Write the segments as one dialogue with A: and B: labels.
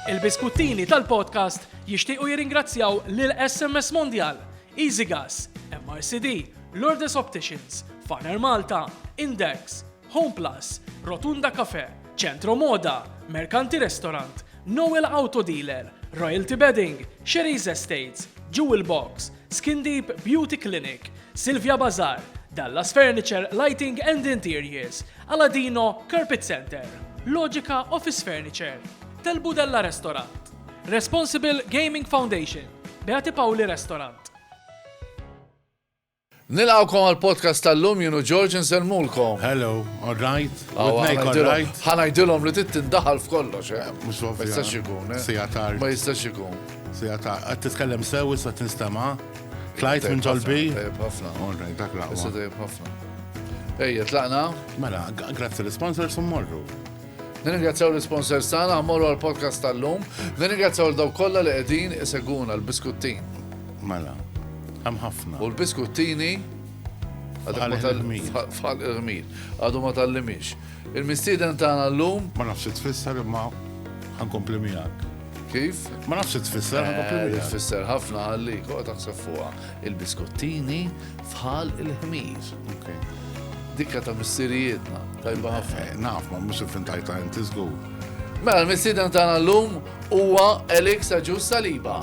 A: Il-biskuttini tal-podcast jixtiequ jirringrazzjaw lil SMS Mondial, EasyGas, MRCD, Lourdes Opticians, Faner Malta, Index, Home Plus, Rotunda Cafe, Centro Moda, Mercanti Restaurant, Noel Auto Dealer, Royalty Bedding, Sherry's Estates, Jewel Box, Skin Deep Beauty Clinic, Silvia Bazar, Dallas Furniture, Lighting and Interiors, Aladino Carpet Center, Logica Office Furniture, Del Budella Restaurant, Responsible Gaming Foundation, Beati Pauli Restaurant. Nilqawkom għal podcast tal-lum jenu George nsellmulkom. Hello, all right? Aw, With Nick, all ħanajdilhom- right? Ħanajdilhom li tittindaħal f'kollox, eh? Mhux ovvja. Ma jistax ikun, eh? Sija tard. Ma jistax ikun. Sija ta' qed titkellem sew issa tinstema'. Tlajt minn ġolbi. Tajjeb ħafna. Orrej, dak laqwa. Issa tajjeb ħafna. Ejja, tlaqna. Mela, grazzi l-sponsors u morru. Nirringrazzjaw l-sponsors tagħna morru għall-podcast tal-lum. Nirringrazzjaw l-daw kollha li qegħdin iseguna l-biskuttin. Mela, hemm ħafna. U l-biskuttini fal irmil Għadu ma tal-limix. Il-mistieden tagħna l-lum. Ma nafx tfisser imma ħankompli miegħek. Kif? Ma nafx tfisser, eh, tfisser ħafna għalli, koqa taħseb fuqa. Il-biskottini fħal il-ħmir. Dikka ta' missirijietna, tajba ħafna. Eh, naf, ma mux il-fintajta inti zgur. Mela, l-missiden tagħna l-lum huwa Elix Aġus Saliba.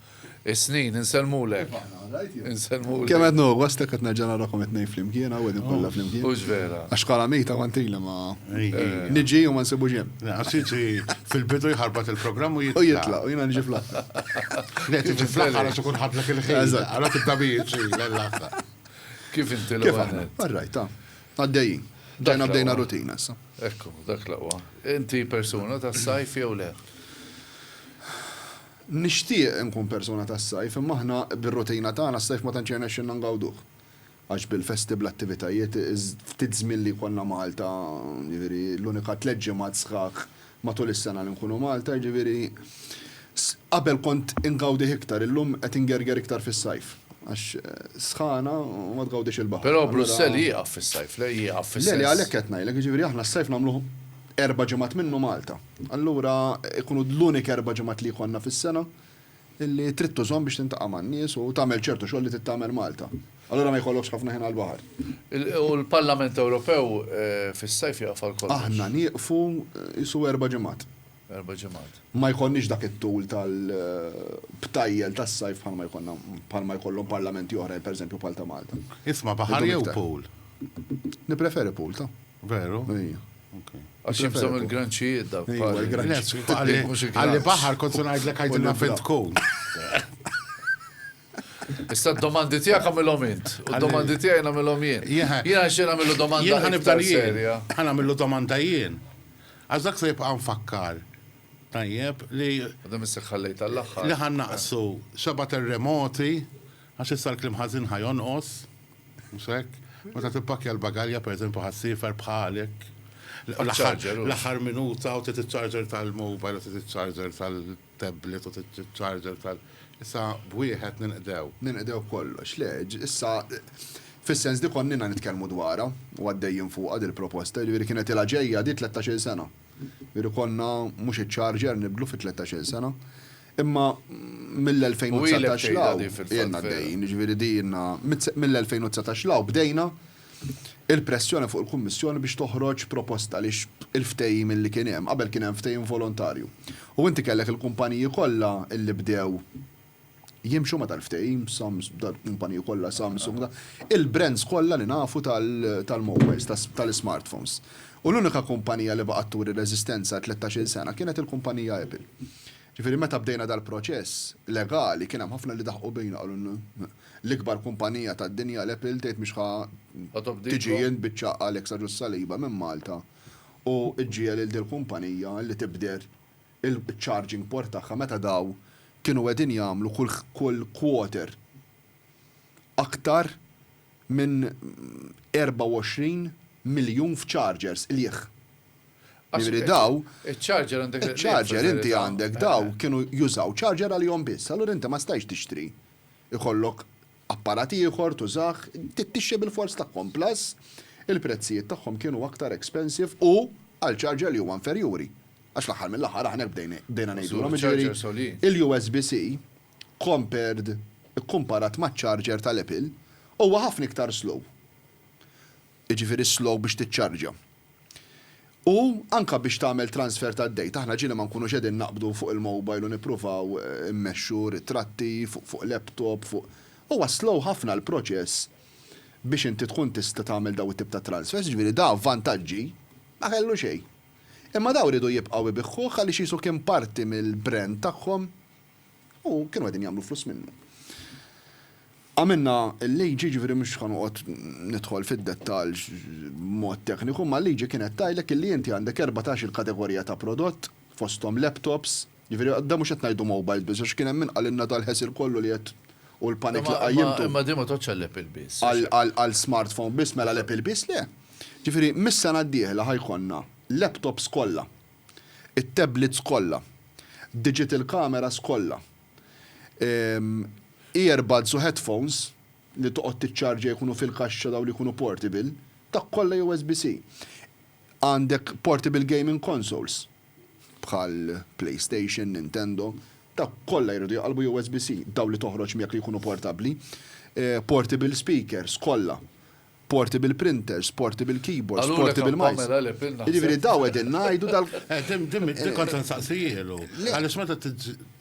A: Is-snin, insellmulek. Insellmulek. Kemm qed nuhu gost hekk qed nerġa' narakom it-tnejn flimkien hawn qegħdin kollha flimkien. Hux vera. Għax bħala mejta kont ili ma niġi u ma nsibux hemm. Għassiti fil-bidu jħarbat il-programm u jitlaq. U jitlaq, u jiena niġi fl-aħħar. Le tiġi fl-aħħar għax ikun ħadlek il-ħin. Għalhekk tibda bih ġej l-aħħar. Kif inti l-ewwel? Kif aħna? All right, ta. Għaddejjin. Ġejna bdejna rutina issa. Ekku, dak l-aqwa. Inti persuna tas-sajf jew le? Nixtieq inkun persuna tas-sajf imma aħna bir-rutina tagħna s-sajf ma tantx jirnexxilna ngawduh. Għax bil-festi bl-attivitajiet, ftit żmien li jkollna Malta, jiġifieri l-unika tliet ġimgħat sħaħ matul is-sena li nkunu Malta, jiġifieri qabel kont ingawdih iktar, illum qed ingerger iktar fis-sajf. Għax sħana u ma tgawdix il-baħar. Però Brussell jieqaf fis-sajf, le? Jieqaf fis-sens. Le, le, għalhekk qed ngħidlek, jiġifieri aħna s-sajf nagħmluh erba' ġimgħat minnu Malta. Allura jkunu l-unik erba' ġimgħat li jkollna fis-sena li trid tużhom biex tintaqa' man-nies u tagħmel ċertu xogħol li trid tagħmel Malta. Allura ma jkollokx ħafna ħin għall-baħar. U l-Parlament Ewropew fis-sajf jieqaf għal kollox. Aħna nieqfu qisu erba' ġimgħat. Erba' ġimgħat. Ma jkollniex dak it-tul tal-btajjel tas-sajf bħalma jkollna bħalma jkollhom parlamenti oħrajn, pereżempju bħal ta' Malta. Isma' baħar jew pool? Nippreferi pool, ta. Veru? Ejja. Għax jibżom il-granċijiet da. Għalli baħar kont se ngħidlek għajdilna fejn tkun. Issa d-domandi tiegħek għamilhom int, u d-domandi tiegħi nagħmilhom jien. Jien għax jien għamilu domanda. Jien ħanibda jien. Ħan għamilu domanda jien. Għax dak se jibqa' nfakkar. Tajjeb li. Għadhom isseħħallejt għall-aħħar. Li ħan naqsu xaba terremoti Għax issa l-kliem ħażin ħa jonqos, mhux hekk? Meta tippakkja l-bagalja, pereżempju ħassiefer bħalek, l-aħħar minuta u trid iċ-charger tal-mobile u trid iċ-charger tal-tablet u trid iċ-charger tal-. Issa b'wieħed ninqdew. Ninqdew kollox. Le, issa fis-sens li konnina nitkellmu dwarha u għaddejjin fuqha dil-proposta, jiġifieri kienet ilha ġejja di tlettax-il sena. Jiġifieri konna mhux iċ-charger nibdlu fi tlettax-il sena, Imma mill-2019 'l hawn ilna għaddejjin, jiġifieri din ilna mill-2019 'l hawn bdejna il-pressjoni fuq il-Kummissjoni biex toħroġ proposta għaliex il-ftehim illi kien hemm, qabel kien hemm ftehim volontarju. U inti kellek il-kumpaniji kollha illi bdew jimxu ma' dal-ftehim, dal-kumpaniji kollha Samsung, il-brands kollha li nafu tal-mobiles, tal-ismartphones. U l-unika kumpanija li baqgħet turi reżistenza għal tlettax-il sena kienet il-kumpanija Apple. Ġifieri meta bdejna dal-proċess legali kien hemm ħafna li daħqu bina qalulna l-ikbar kumpanija tad-dinja l-Apple tgħid mhix ħa tiġi int biċċa Alex Agius-Saliba minn Malta u ġġiegħel lil dil-kumpanija li tibdel iċ-charging port tagħha meta dawn kienu qegħdin jagħmlu kull quarter aktar minn 24 miljun f'chargers qligħ. Jiġifieri dawn, Iċ-charger għandek il-qligħ fil-verità. Iċ-charger inti għandek dawn kienu jużaw charger għalihom biss. Allura inti ma stajtx tixtri jkollok apparat ieħor tużah, tixtri bilfors tagħhom. Plus il-prezzijiet tagħhom kienu aktar expensive u għal charger li huwa inferjuri. Għax fl-aħħar mill-aħħar aħna hekk bdejna ngħidulhom jiġifieri il-USB-C compared, ikkumparat maċ-charger tal-Apple, huwa ħafna iktar slow. Jiġifieri slow biex tiċċarġja. U anke biex tagħmel transfer tad-data, aħna ġieli ma nkunux qegħdin naqbdu fuq il-mobile u nippruvaw immexxu ritratti fuq laptop, fuq, huwa slow ħafna l-proċess biex inti tkun tista' tagħmel dawn it-tip ta' transfers, jiġifieri da vantaġġi ma kellu xejn. Imma dawn riedu jibqgħu jbiħħuh għaliex qisu kien parti mill-brand tagħhom. U kienu qegħdin jagħmlu flus minnu. Għamilna l-liġi, ġifieri mhux ħa noqgħod nidħol fid-dettall b'mod tekniku, imma l-liġi kienet tgħidlek illi inti għandek erbatax-il kategorija ta' prodott, fosthom laptops, ġifieri dan mhux qed ngħidu mobiles biss, għax kien hemm min qalilna dal-ħesir kollu li qed u l-panic li qajjimtu. Imma din ma tgħoddx għall-Apple biss. Għal smartphone biss, mela l-Apple biss le. Ġifieri mis-sena d-dieħla ħa jkollna laptops kollha. it-tablets kollha, digital cameras kollha, earbuds u headphones li toqgħod tiċċarġja jkunu fil-kaxxa dawn li jkunu portable, dak kollha USB-C. Għandek portable gaming consoles bħal PlayStation, Nintendo, dawk kollha jridu jqallbu USB-C, dawn li toħroġ miegħek li jkunu portabbli, portable speakers kollha, portable printers, portable keyboards, portable mice. Jiġifieri dawn qegħdin ngħidu dal. Dik kont se nsaqsihielu. Għaliex meta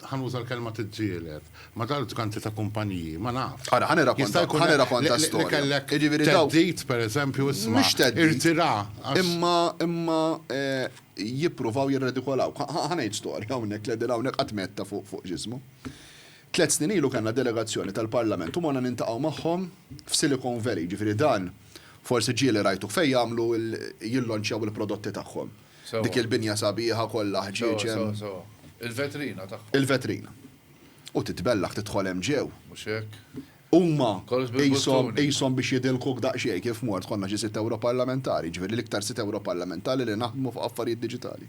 A: ħa nuża l-kelma tiġġieled ma' dawk ġganti ta' kumpaniji, ma nafx. Ara, ħa nirrakonta, ħa nirrakonta storja. Li kellek theddid, pereżempju, isma'. Mhux theddid. Irtira. Imma, imma jippruvaw jirredikolawk. Ħa ngħid storja hawnhekk li qegħdin hawnhekk qatt metta fuq ġismu. Tliet snin ilu kellna delegazzjoni tal-Parlament u morna niltaqgħu magħhom f'Silicon Valley, jiġifieri dan forsi ġieli rajtuh fejn jagħmlu jillonċjaw il-prodotti tagħhom. Dik il-binja sabiħa kollha ħġieġ hemm. Sewwa, sewwa, sewwa. Il-vetrina tagħhom. Il-vetrina. U titbellaħ tidħol hemm ġew. Mhux hekk? Huma qishom qishom biex jidilkuk daqsxejn kif mort, konna xi sitt Ewroparlamentari, jiġifieri l-iktar sitt Ewroparlamentari li naħdmu fuq affarijiet diġitali.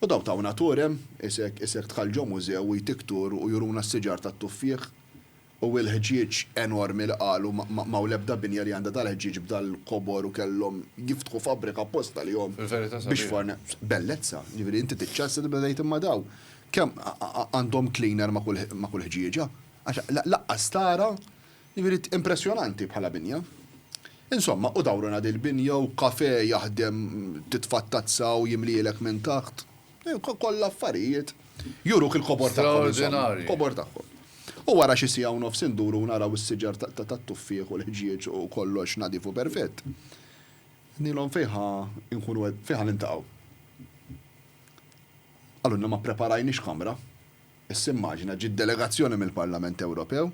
A: U dawn tawna tour hemm, isek, isek dħal ġo mużew u jtik tour u juruna s-siġar tat-tuffieħ u il-ħġieġ enormi li qalu ma ma hawn l-ebda binja li għandha dal-ħġieġ b'dal-kobor u kellhom jiftħu fabbrika apposta għalihom biex forn. Bellezza, jiġifieri inti tiċċassa tibda tgħid imma dawn kemm għandhom cleaner ma' kull ma' kull ħġieġa? Għax laqqas tara Jiġifieri impressjonanti bħala binja. Insomma, hu dawruna dil-binja u kafè jaħdem titfa' t-tazza u jimlielek minn taħt. Kollha affarijiet juruk il-kobor tagħhom insomma. Straordinarji. Il-kobor tagħhom. U wara xi siegħa u nofs induru u naraw is-siġar tat-tuffieħ u l-ħġieġ u kollox nadif u perfett. Għednilhom fejn ħa nkunu qed, fejn ħa niltaqgħu. Qalulna ma ppreparajniex kamra. Issa immaġina ġiet delegazzjoni mill-Parlament Ewropew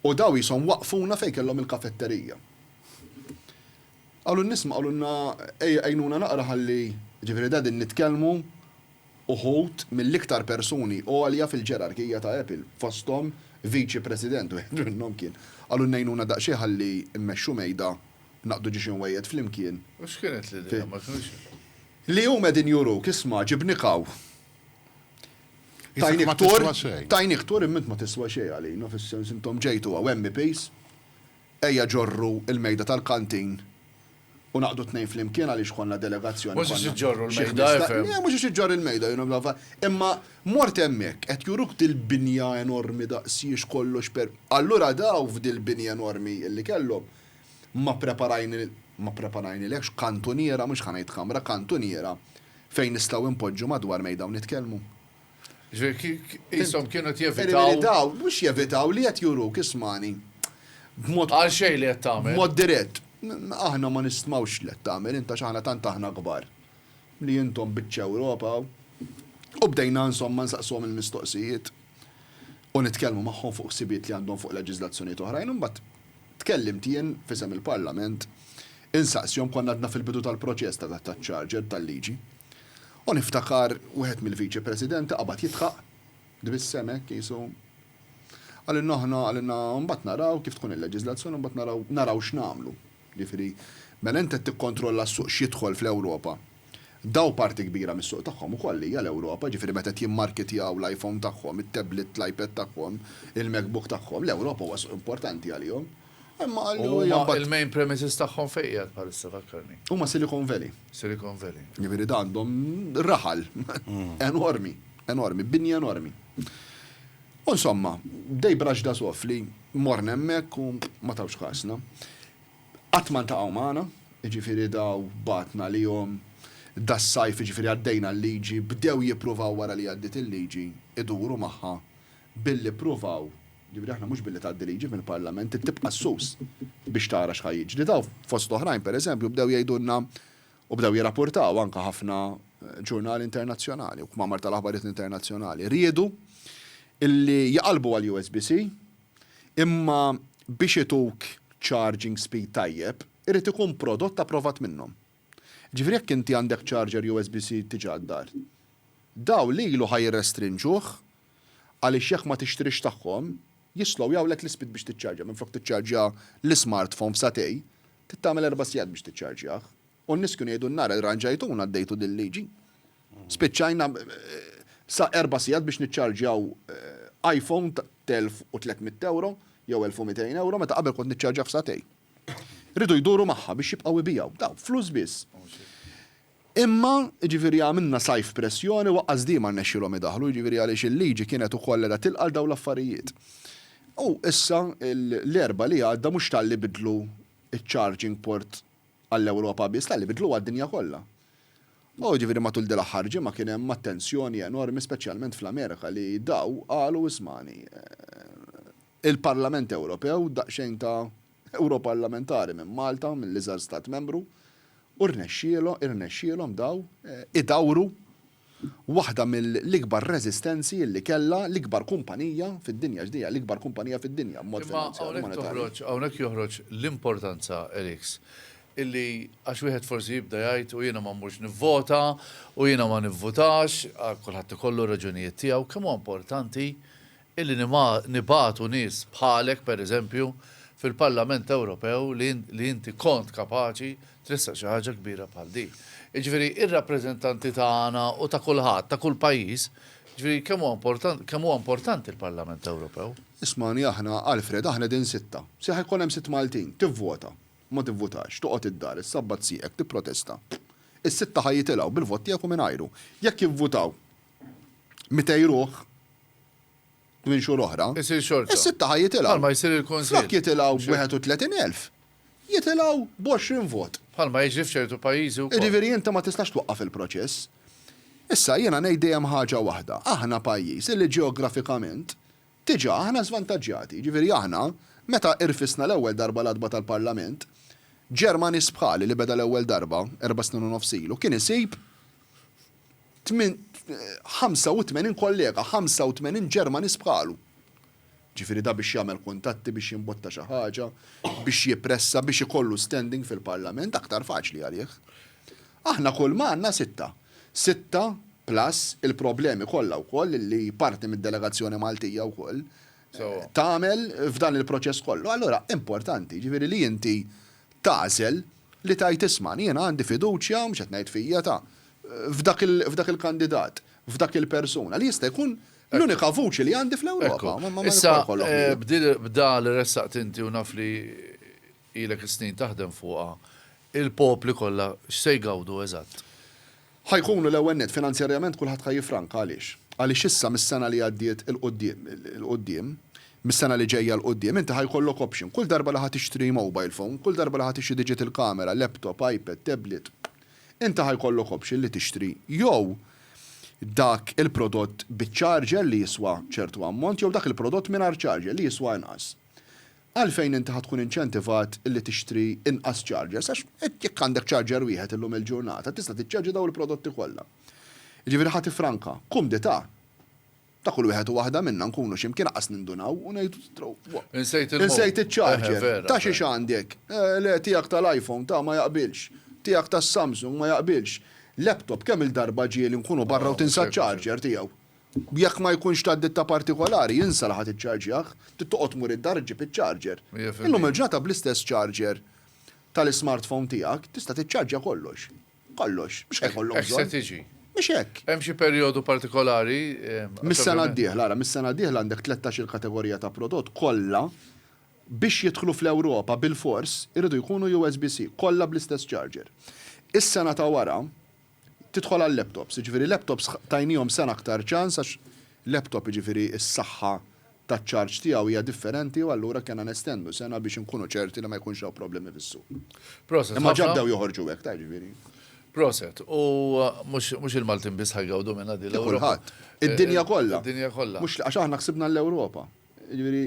A: u daw qishom waqqfuna fejn kellhom il-kafetterija. Qalu n-nies ma qalulna ejja għinuna naqra ħalli, jiġifieri qegħdin nitkellmu uħud mill-iktar persuni għolja fil-ġerarkija ta' Apple, fosthom viċi president, wieħed minnhom kien. Qalulna għinuna daqsxejn ħalli mmexxu mejda, naqdu xi xinwejjed flimkien. U x'kienet l-idea? Ma kinux. Li huma qegħdin juruk, isma' ġibnik hawn. Tajnik tour, tajnik tour imma int ma tiswa xejn għalina fis-sens intom ġejtu hawn MEPs, ejja ġorru l-mejda tal-kantin u naqdu t-tnejn flimkien għaliex konna delegazzjoni konna xi ħmistax. Mhux biex iġġorru l-mejda efhem. Le mhux biex iġġorr il-mejda jiena naf, imma mort hemmhekk qed juruk dil-binja enormi daqsiex kollox per. Allura daw f'dil-binja enormi li kellhom ma ppreparajni ma ppreparajnilekx kantuniera mhux ħa ngħid kamra, kantuniera Fejn nistgħu inpoġġu madwar mejda u nitkellmu? Jiġifieri qishom kienu qed jevitaw. Jiġifieri dawn mhux jevitaw li qed juruk ismagħni b'mod. Għal xejn li qed tagħmel. B'mod dirett. Aħna ma nistmawx li qed tagħmel int għax aħna tant aħna kbar li intom biċċa Ewropa u U bdejna insomma nsaqsuhom il-mistoqsijiet u nitkellmu magħhom fuq ħsibijiet li għandhom fuq leġiżlazzjonijiet oħrajn u mbagħad Tkellimt jien f'isem il-Parlament insaqsihom konna għadna fil-bidu tal-proċess ta' dat-ta' ċarġer tal-liġi u niftakar wieħed mill-Viċi Presidenti qabad jidħaq, tbissem hekk qisu, qalilna aħna qalilna mbagħad naraw kif tkun il-leġislazzjoni mbagħad naraw naraw x'nagħmlu. Jiġifieri mela int qed tikkontrolla s-suq x'jidħol fl-Ewropa Dawn parti kbira mis-suq tagħhom ukoll hija l-Ewropa, jiġifieri meta qed jimmarketjaw l-iPhone tagħhom, it-tablet, l-iPad tagħhom, il-MacBook tagħhom, l-Ewropa huwa suq importanti għalihom. Imma qallu hija mbagħad. Huma il-main premises tagħhom fejn qiegħed bħalissa fakkarni? Huma Silicon Valley. Silicon Valley. Jiġifieri da għandhom raħal enormi, enormi, binja enormi. U insomma, they brushed us off li morna hemmhekk u ma tawx kasna. Qatt ma ltaqgħu magħna, jiġifieri daw bagħtna għalihom das-sajf, jiġifieri għaddejna l-liġi, bdew jippruvaw wara li għaddiet il-liġi iduru magħha billi ppruvaw, jiġifieri aħna mhux billi tgħaddi liġi mill-Parlament trid tibqa' s-sus biex tara x'ħa jiġri. Daw fost oħrajn pereżempju bdew jgħidulna u bdew jirrapurtaw anke ħafna ġurnali internazzjonali u kmamar tal-aħbarijiet internazzjonali riedu illi jqallbu għall-USBC, Imma biex ituk charging speed tajjeb, irid ikun prodott approvat minnhom. Jiġifieri jekk inti għandek charger USB-C diġà d-dar, dawn lilu ħa jirrestrinġuh għaliex jekk ma tixtrix tagħhom, jislowjawlek l-ispeed biex tiċċarġja. Minflok tiċċarġja l-ismartphone f'sagħtej, trid tagħmel erba' sigħat biex tiċċarġjah. U n-niskju ngħidu n-nhar irranġajtuna għaddejtu din liġi. Spiċċajna sa erba' sigħat biex niċċarġjaw iPhone t'elf u tliet mitt ewro jew elf u mitejn ewro meta qabel kont niċċarġjah f'sagħtejn. Rridu jduru magħha biex jibqgħu jbigħu. Dawn flus biss. Imma, jiġifieri għamilna sajf pressjoni u aqqas di ma rnexxielhom idaħħlu, jiġifieri għaliex il-liġi kienet ukoll qiegħda tilqa' għal dawn l-affarijiet. U issa l-Erbgħa li għadda mhux talli bidlu ċ-charging port għall-Ewropa biss, le, li biddlu għad-dinja kollha. U jiġifieri matul din l-aħħar ġimgħa kien hemm attenzjoni enormi speċjalment fl-Amerika li daw qalu ismagħni, il-Parlament Ewropew, daqsxejn ta' Ewroparlamentari minn Malta, mill-iżgħar Stat Membru, u rnexxielhom, irnexxielhom daw idawru Waħda mill-ikbar reżistenzi li kellha l-ikbar kumpanija fid-dinja, għax din hija l-ikbar kumpanija fid-dinja b'mod finanzjarju, monetarju. Imma hawnhekk joħroġ l-importanza, Eriks, illi għax wieħed forsi jibda jgħid u jiena ma mmurx nivvota u jiena ma nivvutax, kulħadd ikollu r-raġunijiet tiegħu, kemm huwa importanti illi nibagħtu nies bħalek, per eżempju, fil-Parlament Ewropew li inti kont kapaċi tressaq xi ħaġa kbira bħal din. Jiġifieri ir-rappreżentanti tagħna u ta' kulħadd, ta' kull pajjiż, jiġifieri kemm huwa importanti, kemm huwa importanti l-Parlament Ewropew. Ismagħni aħna, Alfred, aħna qegħdin sitta. Se ħa jkun hemm sitt Maltin. Tivvota. Ma tivvutax. Toqgħod id-dar, issabbat sieqek, tipprotesta. Is-sitta ħa jitilgħu, bil-vot tiegħek u mingħajru. Jekk jivvutaw, 200 ruħ minn xhur oħra, is-sitta ħa jitilgħu. Flok jitilgħu b'31,000, jitilgħu b'20 vot. Jiġifieri inti ma tistax twaqqaf il-proċess. Issa jiena ngħid dejjem ħaġa waħda, aħna pajjiż illi ġeografikament diġà aħna żvantaġġjati. Jiġifieri aħna meta rfisna l-ewwel darba l-għatba tal-Parlament, Ġermaniż bħali li beda l-ewwel darba erba' snin u nofs ilu kien isib 85 kollega, 85 Ġermaniż bħalu. Ġifieri da biex jagħmel kuntatti, biex jimbotta xi ħaġa, biex jippressa, biex ikollu standing fil-Parlament, aktar faċli għalih. Aħna kulma għandna sitta. Sitta plus il-problemi kollha wkoll li parti mid-delegazzjoni Maltija wkoll tagħmel f'dan il-proċess kollu, allura importanti, jiġifieri li inti tagħżel li tgħid isma', jiena għandi fiduċja, mhux qed ngħid fija, ta', f'dak il-kandidat, f'dak il-persuna, li jista' jkun l-unika vuċi li għandi fl-Ewropa. Issa, b'dan li ressaqt inti u naf li Ilek is-snin taħdem fuqha. Il-popli kollha x'se jgawdu eżatt? Ħa jkunu, l-ewwel nett, finanzjarjament kulħadd ħa jiffranka. Għaliex? Għaliex issa mis-sena li għaddiet 'il quddiem, 'il quddiem, mis-sena li ġejja 'l quddiem, inti ħa jkollok option. Kull darba li ħa tixtri mobile phone, kull darba li ħa tixtri digital camera, laptop, iPad, tablet, inti ħa jkollok option li tixtri jew dak il-prodott biċ-charger li jiswa ċertu ammont jew dak il-prodott mingħajr charger li jiswa inqas. Għalfejn inti ħa tkun inċentivat illi tixtri inqas chargers għax jekk għandek charger wieħed illum il-ġurnata tista' tiċċarġja dawn il-prodotti kollha. Jiġifieri ħa tiffranka. Kumdità. Ta' kull wieħed u waħda minna nkunu xi mkien aqqas nindunaw u ngħidu Insejt iċ-charger. Ta' xiex għandek? Le, tiegħek tal-iPhone, ta' ma jaqbilx. Tiegħek tas-Samsung ma jaqbilx. Laptop kemm-il darba ġieli nkunu barra u tinsa ċ-charger tiegħu. Jekk ma jkunx ta' ditta partikolari, insa li ħa tiċċarġjah. Trid toqgħod tmur id-dar iġġib iċ-charger. Illum il-ġurnata bl-istess charger tal-ismartphone tiegħek tista' tiċċarġja kollox. Kollox. Mhux ħa jkollok bżonn. Hekk se tiġi. Mhux hekk. Hemm xi perjodu partikolari? Mis-sena d-dieħla, ara, mis-sena d-dieħla għandek tlettax-il kategorija ta' prodott kollha biex jidħlu fl-Ewropa bilfors iridu jkunu USB-C, kollha bl-istess charger. Is-sena ta' wara, Tidħol għal-laptops, jiġifieri laptops tajniehom sena aktar ċans għax laptop jiġifieri s-saħħa taċ-charge tiegħu hija differenti u allura kellna nestendu sena biex inkunu ċerti li ma jkunx hawn problemi fis-suq. Proset. Imma ġa bdew joħorġu hekk, ta' jiġifieri. Proset. U mhux il-Maltin biss ħa jgawdu minnha din l-Ewropa. Kulħadd. Id-dinja kollha. Id-dinja kollha. Mhux għax aħna ksibna l-Ewropa. Jiġifieri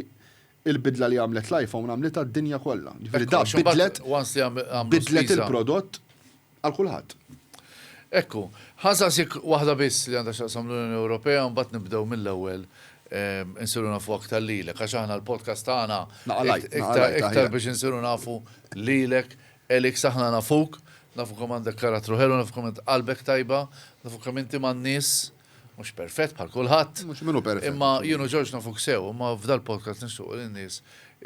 A: il-bidla li għamlet l-iPhone għamlitha d-dinja kollha. Jiġifieri dak bidlet. Once li għamlu. Bidlet il-prodott. Għal kulħadd. Hekk hu. Ħa nsaqsik waħda biss li għandha x'taqsam l-Unjoni Ewropea u mbagħad nibdew mill-ewwel insiru nafu aktar lilek għax aħna l-podcast tagħna iktar biex insiru nafu lilek Elix aħna nafuk, nafu kemm għandek karattru ħelu, nafu kemm int qalbek tajba, nafu kemm inti man-nies. mhux perfett bħal kulħadd. Mhux minnu perfett. Imma jienu Ġorġ nafuk sew, imma f'dal-podcast nixtuq li n-nies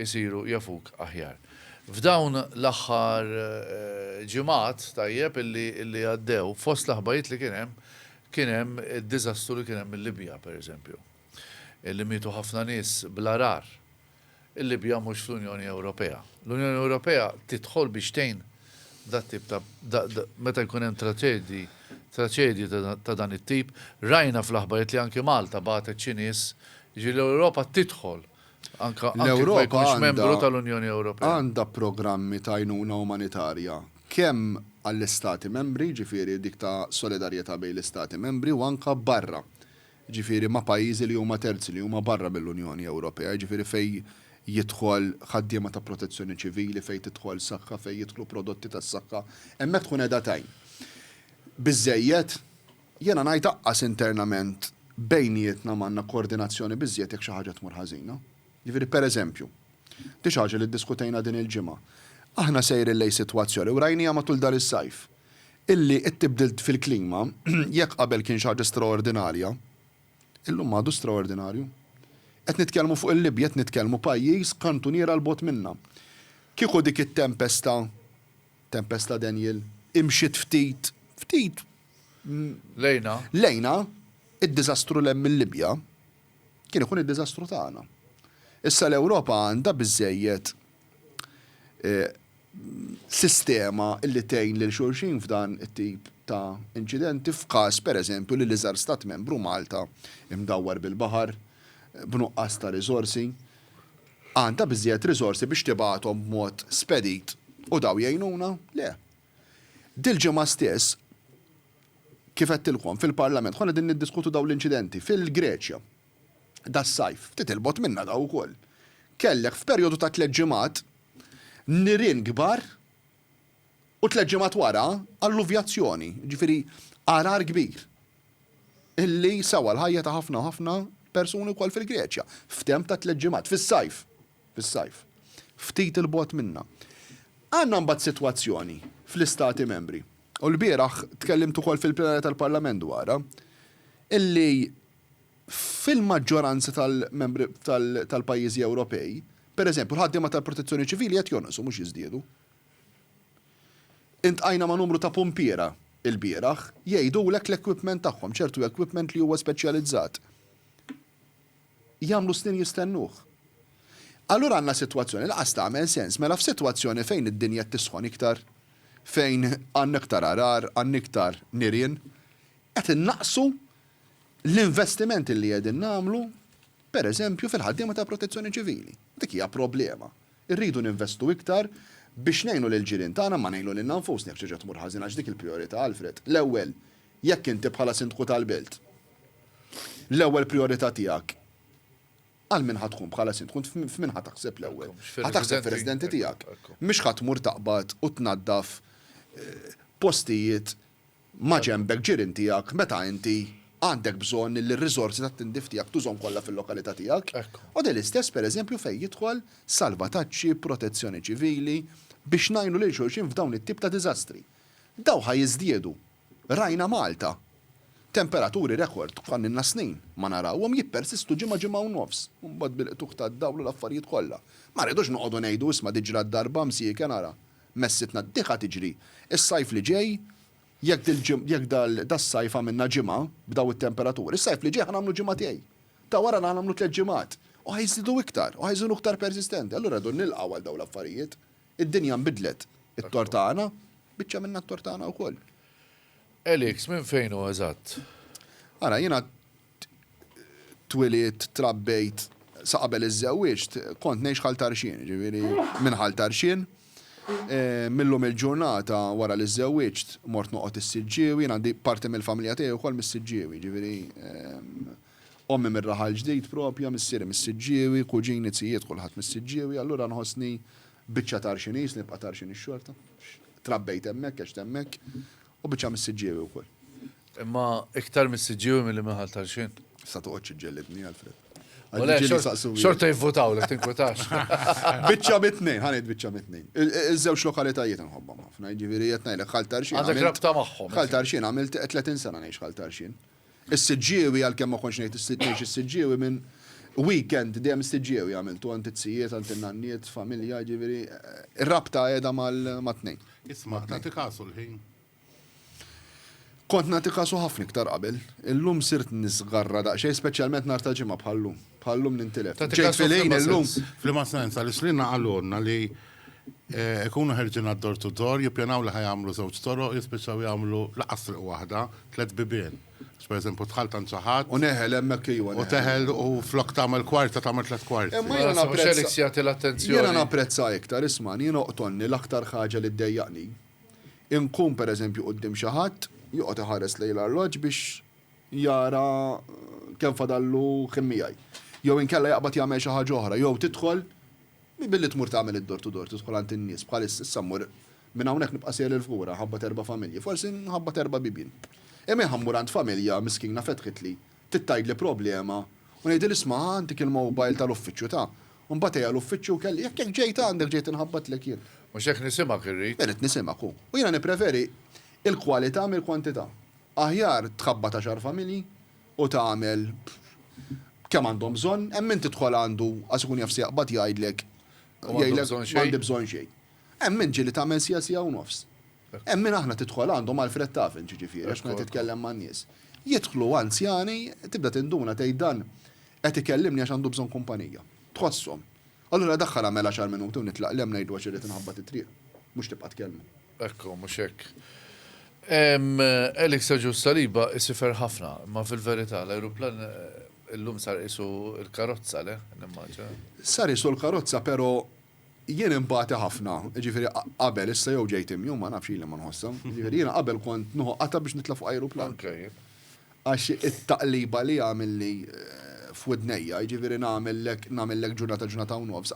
A: isiru jafuk aħjar. F'dawn l-aħħar eh, ġimgħat tajjeb illi għaddew, fost l-aħbajiet li kien hemm, kien hemm id-diżastru li kien hemm il-Libja, pereżempju. Illi mietu ħafna nies bl-arar. il-Libja mhux fl-Unjoni Ewropea. L-Unjoni Ewropea tidħol biex tgħin dat-tip ta' meta jkun hemm traċedji traċedji ta' dan it-tip. Rajna fl-aħbarijiet li anki Malta bagħtet xi nies, jiġifieri l-Ewropa tidħol anke jekk ma jkunx membru tal-Unjoni Ewropea. L-Ewropa għandha programmi ta' għajnuna umanitarja kemm għall-Istati Membri, jiġifieri dik ta' solidarjetà bejn l-Istati Membri u anke barra. jiġifieri ma' pajjiżi li huma terzi, li huma barra mill-Unjoni Ewropea, jiġifieri fejn jidħol ħaddiema ta' protezzjoni ċivili, fejn tidħol saħħa, fejn jidħlu prodotti tas-saħħa, hemmhekk tkun qiegħda tgħin. Biżżejjed? Jiena ngħid aqqas internament bejnietna m'għandna koordinazzjoni biżżejjed jekk xi ħaġa tmur ħażina. Jiġifieri, pereżempju, di xi ħaġa li ddiskutejna din il-ġimgħa, aħna sejrin lejn sitwazzjoni, u rajniha matul dan is-sajf, illi t-tibdil fil-klima, jekk qabel kien xi ħaġa straordinarja, illum għadu straordinarju. Qed nitkellmu fuq il-Libja, qed nitkellmu pajjiż kantuniera 'l bogħod minna. Kieku dik it-tempesta, tempesta Daniel, imxiet ftit, ftit, lejna, id-diżastru 'l hemm il-Libja, Kien ikun id-diżastru tagħna. Issa l-Ewropa għandha biżżejjed sistema li tgħin lil xulxin f'dan it-tip ta' inċidenti f'każ, pereżempju, li l-iżgħar Stat Membru, Malta, imdawwar bil-baħar, b'nuqqas ta' riżorsi, għandha biżżejjed riżorsi biex tibgħathom b'mod spedit u dawn jgħinuna? Le. Dil-ġimgħa stess, kif għedtilkom, fil-Parlament konna qegħdin niddiskutu dawn l-inċidenti fil-Greċja das-sajf, ftit 'il bogħod minna dawn ukoll. Kellek f'perjodu ta' tliet ġimgħat nirien kbar u tliet ġimgħat wara alluvjazzjoni, jiġifieri għargħar kbir illi sewa l-ħajja ta' ħafna u ħafna persuni wkoll fil-Greċja f'temp ta' tliet ġimgħat, fis-sajf. fis-sajf, ftit 'il bogħod minna. Għandna mbagħad sitwazzjoni fl-Istati Membri, u lbieraħ tkellimt ukoll fil-plenarja tal-Parlament dwarha, illi fil-maġġoranza tal-membri tal-pajjiżi Ewropej, per eżempju, l-ħaddiema tal-Protezzjoni Ċivili qed jonqsu mhux jiżdiedu. Iltqajna ma' numru ta' pumpiera lbieraħ, jgħidulek l-equipment tagħhom, ċertu equipment li huwa speċjalizzat, jagħmlu snin jistennuh. Allura għandna sitwazzjoni li lanqas tagħmel sens. Mela f'sitwazzjoni fejn id-dinja qed tisħon iktar, fejn għandna iktar għargħar, għandna iktar nirien, qed innaqqsu l-investimenti li qegħdin nagħmlu, pereżempju, fil-ħaddiema tal-Protezzjoni Ċivili. Dik hija problema. Irridu ninvestu iktar biex ngħinu lill-ġirien tagħna imma ngħinu lilna nfusna jekk xi ħaġa tmur ħażin għax dik il-prijorità, Alfred. L-ewwel, jekk inti bħala Sindku tal-Belt. L-ewwel prijorità tiegħek għal min ħa tkun bħala sindku? F'min ħa taħseb l-ewwel? Ħa taħseb fir-residenti tiegħek. Mhux ħa tmur taqbad u tnaddaf postijiet maġenbek, ġirien tiegħek, meta inti għandek bżonn li r-riżorsi tat-tindif tiegħek tużhom kollha fil-lokalità tiegħek. U dan l-istess pereżempju fejn jidħol salvataġġi, protezzjoni ċivili, biex ngħinu lil xulxin f'dawn it-tip ta' diżastri. Dawn ħa jiżdiedu. Rajna Malta! Temperaturi rekord bħal ilna snin ma narawhom jippersistu ġimgħa ġimgħa u nofs u mbagħad bil-qtugħ tad-dawl u l-affarijiet kollha. Ma rridux noqogħdu ngħidu isma' diġra d-darba msieken ara. Messitna d-diħa tiġri. Is-sajf li ġej jekk dil jekk dal das-sajf għamilna ġimgħa b'daw it-temperaturi, s-sajf li ġej ħa nagħmlu ġimgħatej. Ta' wara ħa nagħmlu tliet ġimgħat. U ħa jżidu iktar u ħa jżunu iktar persistenti. Allura rridu nilqgħu għal dawn l-affarijiet. Id-dinja nbidlet. It-tort tagħna? Biċċa minnha t-tort tagħna wkoll. Elix, minn fejn hu eżatt? Ara, jiena twilidt, trabbejt, sa qabel iżżewwiġt, kont ngħix Ħal Tarxien, jiġifieri minn Ħal Tarxien. Mil-lum il-ġurnata wara li żżewwiġt, mort noqgħod is-Siġġiewi, jien għandi parti mill-familja tiegħi wkoll mis-Siġġiewi, jiġifieri. Ommi mir-Raħal Ġdid propja, missieri mis-Siġġiewi, kuġini, zijiet kulħadd mis-Siġġiewi, allura nħossni biċċa Tarxini, jisni nibqa' Tarxini x-xorta, għax trabbejt hemmhekk, għext hemmhekk, u biċċa mis-Siġġiewi wkoll. Imma iktar mis-Siġġiewi milli minn Ħal Tarxin? Issa toqgħodx iġġellidni, Alfred. U le, xorta jivvutawlek, tinkwetax. Biċċa mit-tnejn, ħa ngħid biċċa mit-tnejn. Iż-żewġ lokalitajiet inħobbhom ħafna, jiġifieri qed ngħidlek Ħal Tarxin. Għandek rabta magħhom. Ħal Tarxin għamilt 30 sena ngħix Ħal Tarxin. Is-Siġġiewi, għalkemm ma kontx ngħix is-Siġġiewi, minn weekend dejjem is-Siġġiewi għamiltu, għand it-tzijiet, għand in-nanniet, familja, jiġifieri r-rabta qiegħda mat-tnejn. Isma', tagħti kasu l-ħin? Kont nagħti kasu ħafna iktar qabel. Illum sirt niżgarra daqsxejn, speċjalment nhar ta' Ġimgħa bħal-lum. Bħal-lum nintilef. Ġejt fil-ħin illum. F'liema sens, għaliex lilna qalulna li Ikunu ħerġin għad-door to door, jippjanaw li ħa jagħmlu żewġ toroq, jispiċċaw jagħmlu lanqas triq waħda, tliet bibien. Għax pereżempju dħalt għand xi ħadd. U neħel hemmhekk iva neħel. U teħel u flok tagħmel kwarta tagħmel tliet kwarti. Imma jiena napprezza. Imma Felix jagħti l-attenzjoni. Jiena napprezza iktar, ismagħni, jien oqtolni l-aktar ħaġa li ddejjaqni. Inqum pereżempju quddiem xi ħadd, joqgħod iħares lejn l-arloġġ biex jara kemm fadallu ħin miegħi. Jew inkella jaqbad jagħmel xi ħaġa oħra, jew tidħol, Mhi billi tmur tagħmel id-door to door tidħol għand in-nies bħal issa, issa mmur minn hawnhekk nibqa' sejjer il Fgura nħabbat erba' familji, forsi nħabbat erba' bibien. Imma jien ħa mmur għand familja miskina fetħitli, trid tgħidli problema u ngħidilha isma' ħa ntik il-mobile tal-uffiċċju ta', u mbagħad ejja l-uffiċċju u kelli, jekk hekk ġejt għandek ġejt inħabbatlek jien. Mhux hekk nisimgħek irrid. Irrid nisimgħek u. U jiena nippreferi il-kwalità mill-kwantità. Aħjar tħabbat għaxar familji u tagħmel b'kemm għandhom bżonn, hemm min tidħol għandu għax ikun jaf se jaqbad jgħidlek jgħidlek m'għandi bżonn xejn. Hemm min ġieli tagħmel siegħa, siegħa u nofs. Hemm min aħna tidħol għandu mal-fred tafen ġiġifieri għax tkun qed titkellem man-nies. Jidħlu anzjani tibda tinduna tgħid dan qed ikellimni għax għandu bżonn kumpanija. Tħosshom. Allura daħħal agħmel għaxar minuti u nitlaq le ngħidlu għax irrid inħabbat it-triq. Mhux tibqa' tkellmu. Hekk hu, mhux hekk? Eli Sergiu s-Saliba isifer ħafna, imma fil-verità l-ajruplan illum sar qisu l-karozza, le? Nimmaġina. Sar qisu l-karozza pero' jien inbati ħafna, jiġifieri qabel, issa jew ġejt imjun, ma nafx ili ma nħossha, jiġifieri jiena qabel kont nieħu qatgħa biex nitla' fuq ajruplan. Anke jien. Għax it-taqliba li għamilli f'widnejja, jiġifieri nagħmellek, nagħmellek ġurnata, ġurnata u nofs,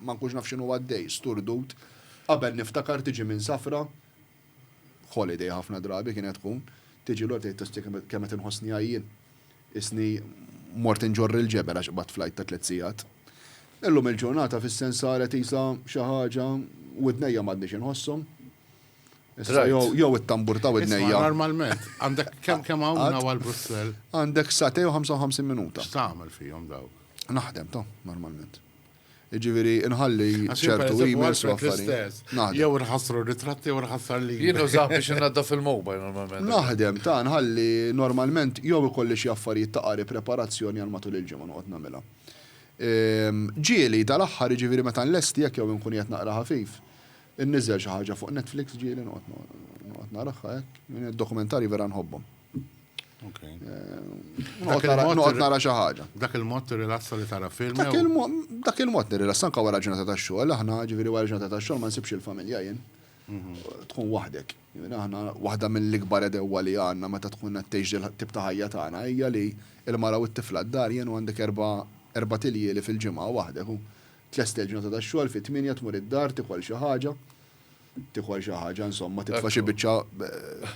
A: ma nkunx naf x'inhu għaddej, sturdut. Qabel niftakar tiġi minn safra, holiday ħafna drabi kienet tkun, tiġi lura tgħid Ostie kemm qed inħossni għajjien. Qisni mort inġorr il-ġebel għax qbadt flight ta' tliet sigħat. Illum il-ġurnata fis-sens saret qisha xi ħaġa, widnejja m'għadniex inħosshom. Issa jew jew it-tambur ta' widnejja. Isma' normalment għandek kemm kemm hawn minn hawn għal Brussell? Għandek sagħtejn u ħamsa u ħamsin minuta. X'tagħmel fihom dawk? Naħdem ta' normalment. Jiġifieri nħalli ċertu emails u affarijiet. Naħdem. Jew inħassru r-ritratti jew inħassar l-emails. Jien nużah biex innaddaf il-mobile normalment. Naħdem ta' nħalli normalment jew ikolli xi affarijiet ta' qari preparazzjoni għal matul il-ġimgħa noqgħod nagħmilha. Ġieli tal-aħħar jiġifieri meta nlesti hekk jew inkun qiegħed naqra ħafif, Inniżżel xi ħaġa fuq Netflix ġieli noqgħod naraha hekk, dokumentarji vera nħobbhom. Noqgħod nara xi ħaġa. Dak il-mod tirrilassa li tara film. Dak il-mod nirrilassa anke wara ġurnata ta' xogħol, aħna ġifieri wara ġurnata ta' xogħol ma nsibx il-familja jien. Tkun waħdek. Aħna waħda mill-ikbar edewwa li għandna meta tkun qed tgħix tip ta' ħajja tagħna hija li l-mara u t-tifla d-dar jien u għandek erba' tiljieli fil-ġimgħa waħdek u Tlest il-ġurnata tax-xogħol, fit-tmienja tmur id-dar, tikol xi ħaġa, tikol xi ħaġa, insomma, titfa' xi biċċa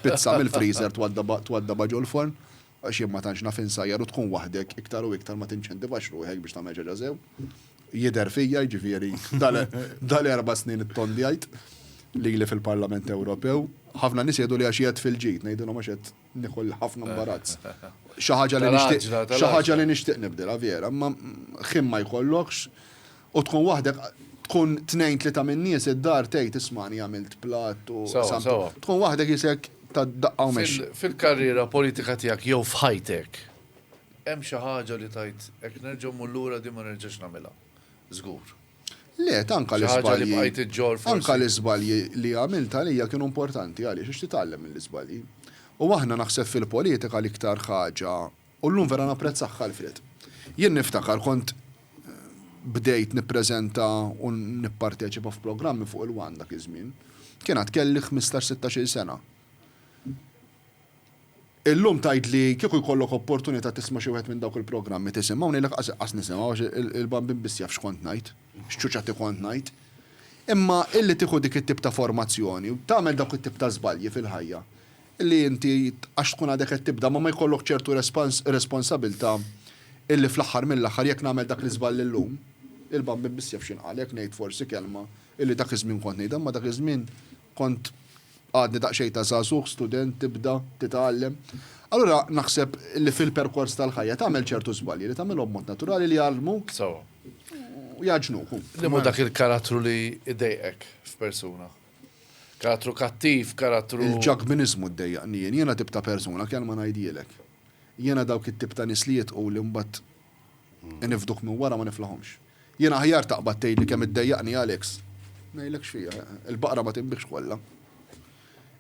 A: pizza mill-freezer twaddabha ġol-forn, għax jien ma tantx naf insajjar u tkun waħdek iktar u iktar ma tinċentivax ruħek biex tagħmel xi ħaġa sew. Jidher fija, jiġifieri dal-erba' snin ittondjajt lili fil-Parlament Ewropew. Ħafna nies jgħidu li għax qiegħed fil-ġid, ngħidilhom għax qiegħed Nikolla ħafna mbarazz. Xi ħaġa li nixtieq, xi ħaġa li nixtieq nibdilha vera, imma ħin ma jkollokx u tkun waħdek tkun tnejn tlieta minn nies id-dar tgħid ismani għamilt platt u tkun waħdek isek ta' daqqa u mex. Fil-karriera politika tiegħek jew f'ħajtek hemm xi ħaġa li tgħid hekk nerġa' mmur lura din ma nerġax nagħmilha. Żgur. Le, tanka l-iżbalji. Xi ħaġa li bqajt iġġorr forsi. Anka l-iżbalji li għamilt għalija kienu importanti għaliex għax titgħallem mill-iżbalji. U aħna naħseb fil-politika l-iktar ħaġa, u llum vera napprezzah Alfred. Jien niftakar kont bdejt nippreżenta u nipparteċipa f'programmi fuq il-one dak iż-żmien. Kien għad kelli ħmistax-sittax-il sena. Illum tgħid li kieku jkollok opportunità tisma' xi wieħed minn dawk il-programmi tisimgħu, ngħidlek qas iqqas nisimgħu għax il-Bambin biss jaf x'kont ngħid, x'ċuċati kont ngħid. Imma illi tieħu dik it-tip ta' formazzjoni u tagħmel dawk it-tip ta' żbalji fil-ħajja, illi inti għax tkun għadek qed tibda ma ma jkollok ċertu responsabilità illi fl-aħħar mill-aħħar jekk nagħmel dak l-iżball illum, il-Bambin biss jaf x'inqal jekk ngħid forsi kelma illi dak iż-żmien kont ngħidha imma dak iż-żmien Kont għadni daqsxejn ta' żagħżugħ, student, tibda, titgħallem. Allura naħseb li fil-perkors tal-ħajja tagħmel ċertu żbalji li tagħmilhom b'mod naturali li jgħallmuk u jgħaġġnuk. Li mhu dak il-karattru li jdejqek f'persuna? Karattru kattiv, karattru. Il-ġakbiniżmu ddejjaqni jien. Jiena tip ta' persuna, kelma ngħidhielek. Jiena dawk it-tip ta' nies li jidħqu li mbagħad Inifduk minn wara ma niflahomx. Jien aħjar taqbad tgħidli kemm iddejjaqni Alex. Ngħidlek xi, il-baqra ma tinbigħx kollha.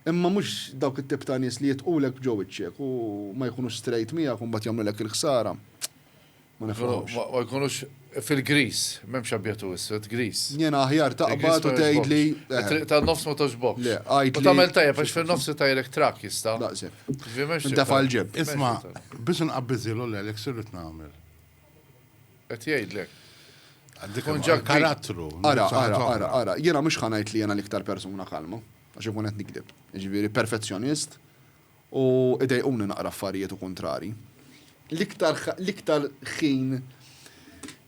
A: Imma mhux dawk it-tip ta' nies li jitqulek b'ġo wiċċek u ma jkunux straight miegħek u mbagħad jagħmlulek il-ħsara. Ma niflahomx. Ma jkunux fil-griż, m'hemmx abjad u iswed, griż. Jiena aħjar taqbad u tgħidli. It-triq tan-nofs ma togħġbokx. Le, għidli. U tagħmel tajjeb għax fin-nofs itajrek trakk jista'. Daqshekk. Dafa l-ġeb. Isma, biex nqabbiżilu l-Alex irrid nagħmel. Qed jgħidlek. Karattru. Ara, ara, ara, ara. Jiena mhux ħanajt li jiena l-iktar persuna kalma, għax ikun qed nikdeb. Jiġifieri perfezzjonist u idejquni naqra affarijiet u kuntrari. L-iktar l-iktar ħin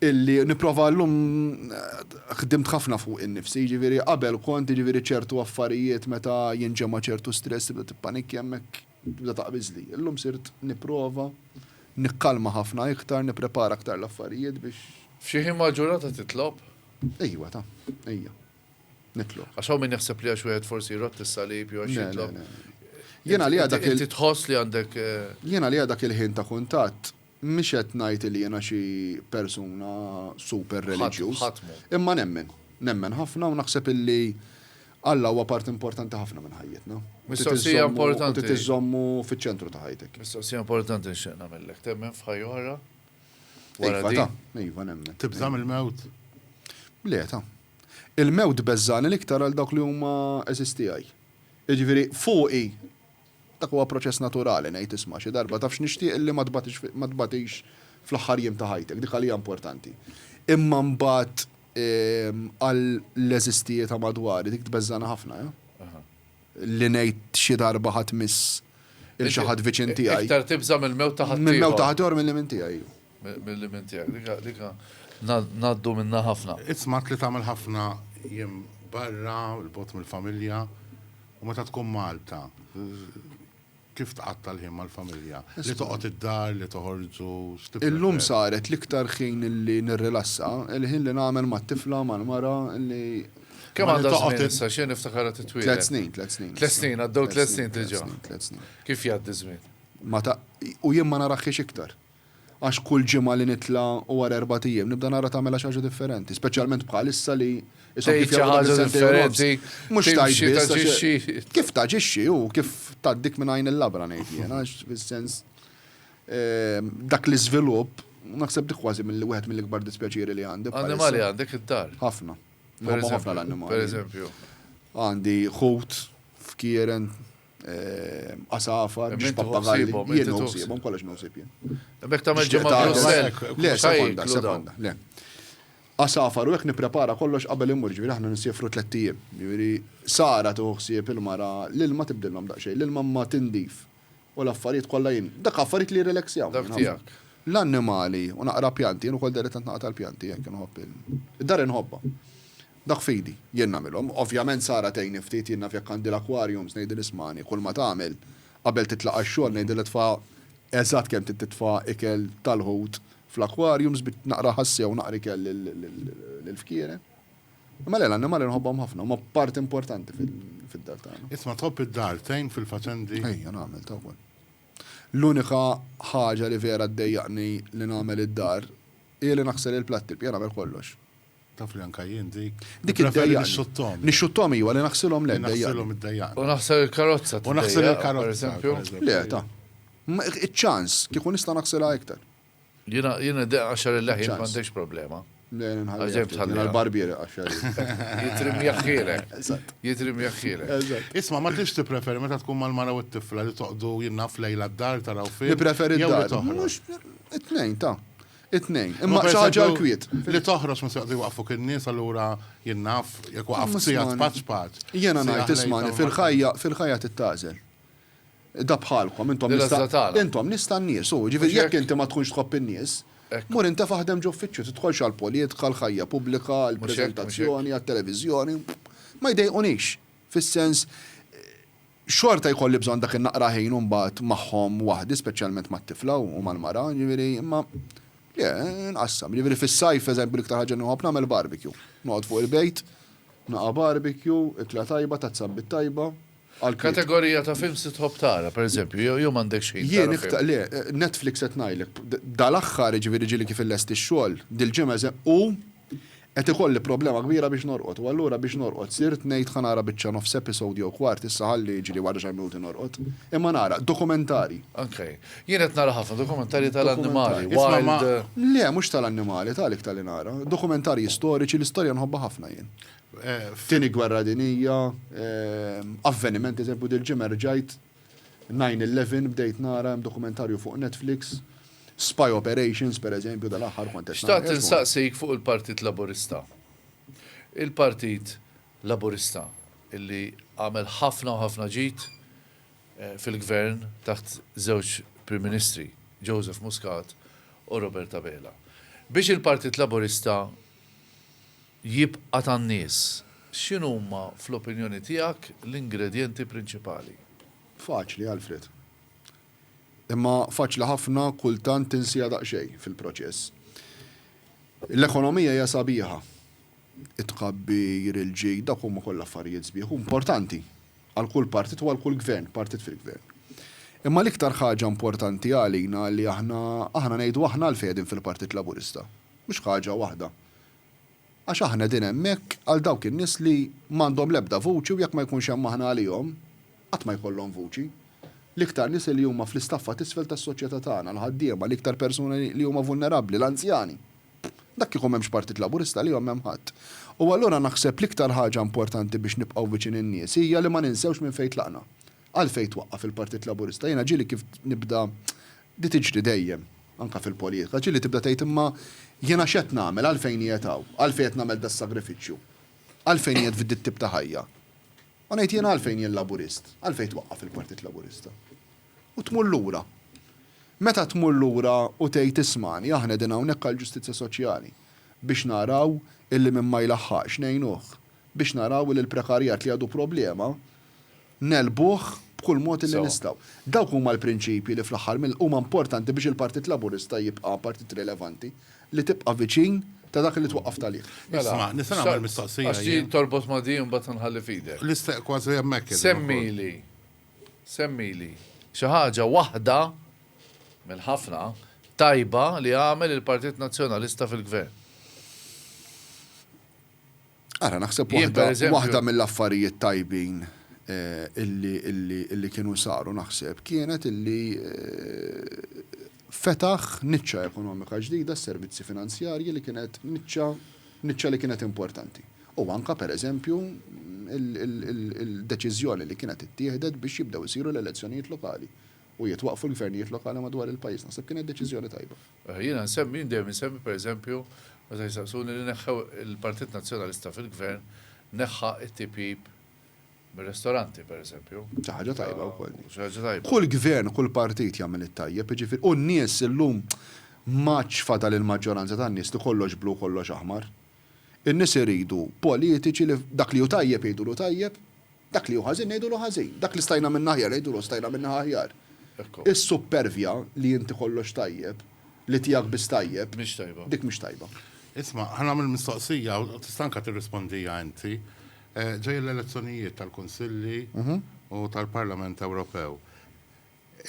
A: illi nipprova llum ħdimt ħafna fuqi nnifsi, jiġifieri qabel kont jiġifieri ċertu affarijiet meta jinġema' ċertu stress tibda tippanikkja hemmhekk tibda taqbiżli. Illum sirt nipprova nikkalma ħafna iktar, nipprepara aktar l-affarijiet biex. F'xi ħin mal-ġurnata titlob? Ejwa ta. Ejja. Nitlob. Għax hawn min jaħseb li għax wieħed forsi jrott is-salib jew għax jitlob. Jiena li dak il tħoss li għandek. Eh, jiena li dak il-ħin ta' kuntatt mhix qed ngħid li jiena xi persuna super reliġjuż. Imma nemmen, nemmen ħafna u naħseb illi Alla huwa part importanti ħafna minn ħajjitna. Mistoqsija importanti. Tiżommu fiċ-ċentru ta' ħajtek. Mistoqsija importanti nxieq nagħmellek. Temmen f'ħajja oħra? Iva, iva nemmen. Tibżam il-mewt? Le, ta' Il-mewt beżżagħni l-iktar għal dawk li huma għeżież tiegħi. Jiġifieri, fuqi, dak huwa proċess naturali, ngħid isma' xi darba, taf x'nixtieq illi ma tbatix ma tbatix fl-aħħar jiem ta' ħajtek, dik għalija importanti. Imma mbagħad għal l-għeżież tiegħi ta' madwari, dik tbeżżagħni ħafna, eh. Li ngħid xi darba ħa tmiss lil xi ħadd viċin tiegħi. Iktar tibża' mill-mewt ta' ħaddieħor. Mill-mewt ta' ħaddieħor milli minn tiegħi. Mill-ilmien tiegħek, dik dik ngħaddu minnha ħafna. Ismat li tagħmel ħafna jiem barra, 'l bogħod mill-familja, u meta tkun Malta, kif tqatta' l-ħin mal-familja? Li toqgħod id-dar, li toħorġu, x'tipprefer? Illum saret l-iktar ħin li nirrilassa, il-ħin li nagħmel mat-tifla, mal-mara, li. Kemm għandha toqgħod issa, x'jien niftakar qed titwieled. Tliet snin, tliet snin. Tliet snin, għaddew tliet snin diġà. Tliet snin, tliet snin. Kif jgħaddi ż-żmien? Ma ta' u jien ma naraħħiex iktar. Għax kull ġimgħa li nitla' u wara erbat ijiem nibda nara tagħmilha xi ħaġa differenti, speċjalment bħalissa li ishom kif jagħmluha fi sentejn u nofs. Mhux tgħid biss għax kif taġixxi u kif tgħaddik minn għajn il-labra ngħid jien għax fis-sens dak l-iżvilupp naħseb dik kważi milli wieħed mill-ikbar dispjaċieri li għandi. Annimali għandek id-dar? Ħafna. Nħobbhom ħafna l-annimali. Pereżempju. Għandi ħut f'Kieren għasafar, biex pappagalli, jien nħsibhom kollox nħsib jien. Bek ta' meġġu ma' Brussel. Le, sekonda, sekonda, le. Għasafar u hekk nipprepara kollox qabel immur, ġifieri aħna nisjefru tliet ijiem. Ġifieri Sara tuħsieb il-mara l-ilma tibdilhom daqsxejn, l-ilma ma tindif u l-affarijiet kollha jien. Dak affarijiet li jirrelaxjaw. Dak tiegħek. L-annimali u naqra pjanti, jien ukoll deri tant naqra tal-pjanti, jekk inħobb il-dar inħobbha. Dak f'idi, jien nagħmilhom. Ovvjament Sara tgħinni ftit, jien naf jekk għandi l-aquariums ngħidilha ismagħni, kulma tagħmel, qabel titlaq għax-xogħol ngħidilha tfa' eżatt kemm trid titfa' ikel tal-ħut fl-aquariums bi naqra ħassija u naqra ikel lill-fkieren. Imma le, l-annimali nħobbhom ħafna, huma parti importanti fid-dar tagħna. Isma' tħobb id-dar, tgħin fil-faċendi? Ejja, nagħmel ta' wkoll. L-unika ħaġa li vera ddejjaqni li nagħmel id-dar hi li naħsel il-platti, l-bqija nagħmel kollox. Taf li anka jien dik. Dik id-dejjaqni. Nixxutthom. Nixxutthom iva, li naħsilhom le d-dejjaqni. Naħsilhom id-dejjaqni. U naħsel il-karozza tiddejjaq. U naħsel il-karozza, pereżempju. Le, ta. Iċ-ċans, kieku nista' naħsilha iktar. Jiena, jiena d-dejjaq qaxxar il-leħjen ma għandekx problema. Le, le nħalli. Għax tħalli. Jiena l-barbiere qaxxar. Jitri mjaħħielek. Eżatt. Jitri mjaħħielek. Eżatt. Isma' ma tridx tippreferi meta tkun mal-mara u t-tifla li toqgħdu jien naf lejla d-dar taraw film. Nippreferi d-dar. Mhux it-tnejn, ta. It-tnejn, imma xi ħaġa l-kwiet. Li toħroġ mhux se joqogħdu jwaqqfuk in-nies allura jien naf jekk waqaft siegħa tpaċ paċ. Jiena ngħid ismagħni fil-ħajja fil-ħajja trid tagħżel. Da bħalkom intom nista' intom nies tan-nies u jiġifieri jekk inti ma tkunx tħobb in-nies, mur intefa' ħdem ġo uffiċċju, tidħolx għall-politika, għall-ħajja pubblika, għall-preżentazzjoni, għat-televiżjoni. Ma jdejqunix fis-sens Xorta jkolli bżonn dak in-naqra ħin imbagħad magħhom waħdi, speċjalment mat-tifla u mal-mara, jiġifieri, imma le, inqassam. Jiġifieri fis-sajf, f'eżempju, l-iktar ħaġa li nħobb nagħmel barbecue. Noqgħod fuq il-bejt, naqa' barbecue, ikla tajba, tazza bit tajba, għall-klieb. Kategorija ta' films li tħobb tara, pereżempju, jew jew m'għandekx ħin tara film? Jien, le, Netflix qed ngħidlek. Dal-aħħar, jiġifieri ġieli kif illesti x-xogħol, dil-ġimgħa, u Qed ikolli problema kbira biex norqod u allura biex norqod sirt ngħid ħa nara biċċa nofs episode jew kwart issa ħalli jiġri wara xi minuti norqod. Imma nara dokumentarji. Ok. Jien qed nara ħafna dokumentarji tal-annimali, wild. Le, mhux tal-annimali, ta' għalik ta' li nara. Dokumentarji storiċi, l-istorja nħobbha ħafna jien. Tieni Gwerra Dinjija, avvenimenti, eżempju dil-ġimgħa rġajt Nine Eleven bdejt nara, hemm dokumentarju fuq Netflix, Spy Operations pereżempju dal-aħħar kont qed nara. Xtaqt insaqsik fuq il-Partit Laburista. Il-Partit Laburista illi għamel ħafna u ħafna ġid fil-Gvern taħt żewġ Prim Ministri, Joseph Muscat u Robert Abela. Biex il-Partit Laburista jibqa' tan-nies. X'inhuma, fl-opinjoni tiegħek, l-ingredjenti prinċipali? Faċli, Alfred. Imma faċli ħafna kultant tinsiha daqsxejn fil-proċess. L-ekonomija hija sabiħa. It-tkabbir, il-ġid, dawk huma kollha affarijiet sbieħ u importanti għal kull partit u għal kull gvern, partit fil-gvern. Imma l-iktar ħaġa importanti għalina li aħna, aħna ngħidu aħna għalfejn qegħdin fil-Partit Laburista. Mhux ħaġa waħda. Għax aħna qegħdin hemmhekk għal dawk in-nies li m'għandhom l-ebda vuċi u jekk ma jkunx hemm aħna għalihom, qatt ma jkollhom vuċi. L-iktar nies li huma fl-istaffa t'isfel tas-soċjetà tagħna, l-ħaddiema, l-iktar persuni li huma vulnerabbli, l-anzjani. Dak kieku m'hemmx Partit Laburista għalihom m'hemm ħadd. U allura naħseb l-iktar ħaġa importanti biex nibqgħu viċin in-nies hija li ma ninsewx minn fejn tlaqna. Għalfejn twaqqaf il-Partit Laburista? Jiena ġieli kif nibda, di tiġri dejjem, anke fil-politika, ġieli tibda tgħid imma jiena x'qed nagħmel, għalfejn qiegħed hawn, għalfejn qed nagħmel das-sagrifiċċju, għalfejn qiegħed f'dit-tip ta' ħajja? U ngħid jiena għalfejn jien Laburist, għalfejn twaqqaf il-Partit Laburista? U tmur lura. Meta tmur lura u tgħid ismagħni aħna qegħdin hawnhekk għall-ġustizzja soċjali, biex naraw illi min ma jlaħħaqx ngħinuh, biex naraw illi l-prekarjat li għadu problema, Negħlbuh b'kull mod illi nistgħu. Dawk huma l-prinċipji li fl-aħħar mill huma importanti biex il-Partit Laburista jibqa' partit rilevanti, li tibqa' viċin ta' dak li twaqqaft għalih. Isma', nista' nagħmel mistoqsija jien? Għax din torbot ma' din u mbagħad inħalli f'idek. L-istess, kważi hemmhekk qegħdin ukoll. Semmili, semmili xi ħaġa waħda minn ħafna tajba li għamel il-Partit Nazzjonalista fil-Gvern. Ara, naħseb waħda, waħda mill-affarijiet tajbin illi, illi, illi kienu saru naħseb kienet illi fetaħ niċċa ekonomika ġdida s-servizzi finanzjarji li kienet niċċa, niċċa li kienet importanti. U anka per eżempju il-deċiżjoni li kienet ittieħdet biex jibdew isiru l-elezzjonijiet lokali u jitwaqfu l-gvernijiet lokali madwar il-pajjiż naħseb kienet deċiżjoni tajba. Jiena nsemmi, jien dejjem insemmi pereżempju meta jsaqsuni li neħħew il-Partit Nazzjonalista fil-Gvern neħħa t-tipjip mir-restoranti pereżempju. Xi ħaġa tajba wkoll din. Xi ħaġa tajba. Kull Gvern, kull Partit jagħmel it-tajjeb, jiġifieri, u n-nies illum m'għadx fadal il-maġġoranza tan-nies li kollox blu u kollox aħmar. In-nies iridu politiċi li dak li hu tajjeb jgħidulu tajjeb, dak li hu ħażin ngħidulu ħażin, dak li stajna minna aħjar ngħidulu stajna minna aħjar. Is-suppervja li inti kollox tajjeb, li tiegħek biss tajjeb, dik mhix tajba. Isma', ħa nagħmel mistoqsija u tista' anke tirrispondiha inti. Ġejjin l-elezzjonijiet tal-Kunsilli u tal-Parlament Ewropew.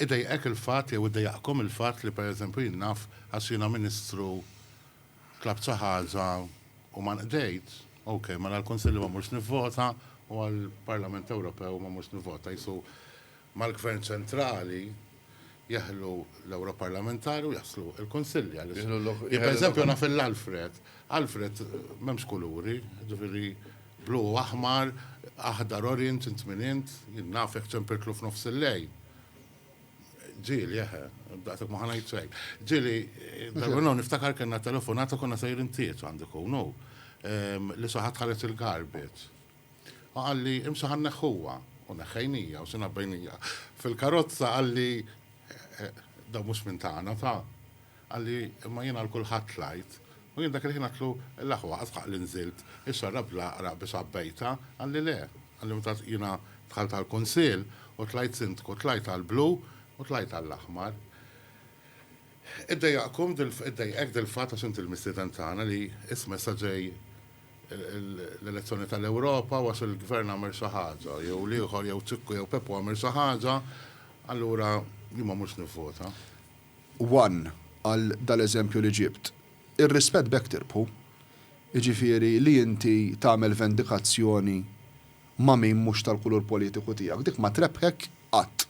A: Idejqek il-fatt jew idejjaqkom il-fatt li pereżempju jien naf għax jiena Ministru tlabt xi ħaġa u ma nqdejt, ok, mela l-Kunsilli ma mmurx nivvota u għall-Parlament Ewropew ma mmurx nivvota. Qisu mal-Gvern Ċentrali jeħlu l-Ewroparlamentari u jaslu l-Kunsilli għaliex jien pereżempju naf il-Alfred. Alfred m'hemmx kuluri, jiġifieri. Blu, aħmar, aħdar, orient, int min int? Jien nafek ċempirtlu f'nofs il-lejl. Ġieli, eħe, daqshekk ma ħa ngħid xejn. Ġieli, darba nagħmel niftakar kellna telefonata konna sejrin tieġ għandu jkun hu, ehm, li xi ħadd ħareġ il-garbage. U qalli, imxi ħa nneħħuha. U neħħejnija u xinha bejnija. Fil-karozza qalli, eh, eh, dan mhux minn tagħna, ta? Qalli, Imma jien għal kulħadd tlajt. U jien dak il-ħin għedtlu, L-aħwa, adħaq li nżilt is-serra bl-għaqraq biss għabbejtha? Qalli, Le. Qalli, Meta jiena dħalt għall-Kunsill u tlajt Sindku, tlajt għall-blu u tlajt għall-aħmar. Iddejjaqkom, iddejjqek dil-fatt għax inti l-mistieden tagħna li isma' issa ġej l-elezzjoni tal-Ewropa u għax il-Gvern għamel xi ħaġa jew l-ieħor jew Ċikku jew Peppu għamel xi ħaġa, allura jien ma mmurx nivvota. one għal dal-eżempju li ġibt, ir-rispett b'hekk tirbħu. Jiġifieri li inti tagħmel vendikazzjoni ma' min mhux tal-kulur politiku tiegħek, dik ma trebbħek qatt.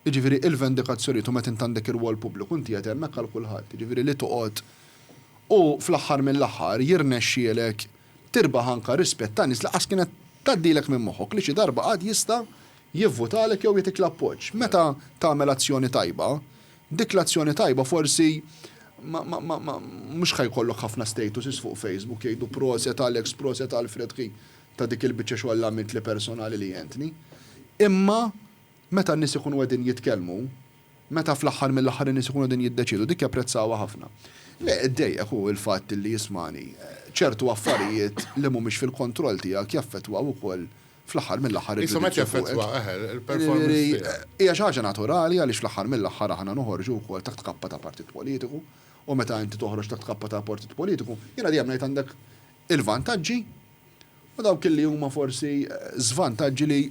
A: Jiġifieri il-vendikazzjonijiet u meta int għandek irwol pubbliku inti qed hemmhekk għal kulħadd, jiġifieri li toqgħod u fl-aħħar mill-aħħar jirnexxielek tirbaħ anke rispett ta' nies li qas kienet tgħaddilek minn moħħok li xi darba għad jista' jivvutalek jew jagħtik l-appoġġ. Meta tagħmel azzjoni tajba, dik l-azzjoni tajba forsi ma ma ma ma mhux ħa jkollok ħafna statuses fuq Facebook jgħidu proset Alex, proset Alfred ħi ta' dik il-biċċa xogħol li għamiltli personali li għentni. Imma meta n-nies ikunu qegħdin jitkellmu, meta fl-aħħar mill-aħħar in-nies ikunu qegħdin jiddeċiedu, dik japprezzawha ħafna. Le, iddejjaq hu l-fatt li jismagħni. Ċertu affarijiet li mhumiex fil-kontroll tiegħek jaffettwaw ukoll fl-aħħar mill-aħħar irridu niġu fuqek. Qishom qed jaffettwa, eħe, il-performance tiegħek. Hija xi ħaġa naturali għaliex fl-aħħar mill-aħħar aħna noħorġu wkoll taħt kappa ta' partit politiku u meta inti toħroġ taħt kappa ta' partit politiku, jiena dejjem ngħid għandek il-vantaġġi u dawk li huma forsi żvantaġġi li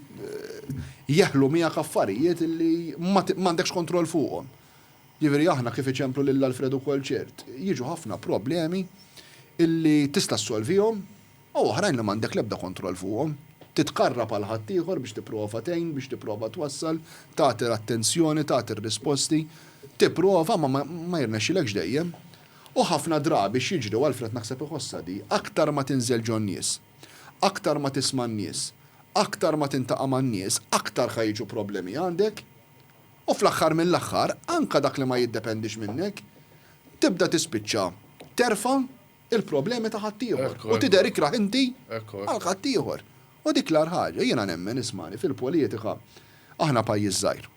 A: jeħlu miegħek affarijiet li m'għandekx kontroll fuqhom. Jiġifieri aħna kif iċemplu lil Alfred ukoll ċert, jiġu ħafna problemi illi tista' ssolvihom u oħrajn li m'għandek l-ebda kontroll fuqhom, titkarrab għal ħaddieħor biex tipprova tgħin, biex tipprova twassal, tagħti l-attenzjoni, tagħti r-risposti, tipprova ma ma jirnexxilekx dejjem. U ħafna drabi x'jiġri u Alfred naħseb iħossha di, aktar ma tinżel ġon-nies, aktar ma tisma' n-nies, aktar ma tintaqa' man-nies, aktar ħa jiġu problemi għandek u fl-aħħar mill-aħħar anke dak li ma jiddependix minnek tibda tispiċċa terfa' il-problemi ta' ħaddieħor u tidher ikrah inti għal ħaddieħor. U dik l-agħar ħaġa. Jiena nemmen, ismagħni, fil-politika aħna pajjiż żgħir.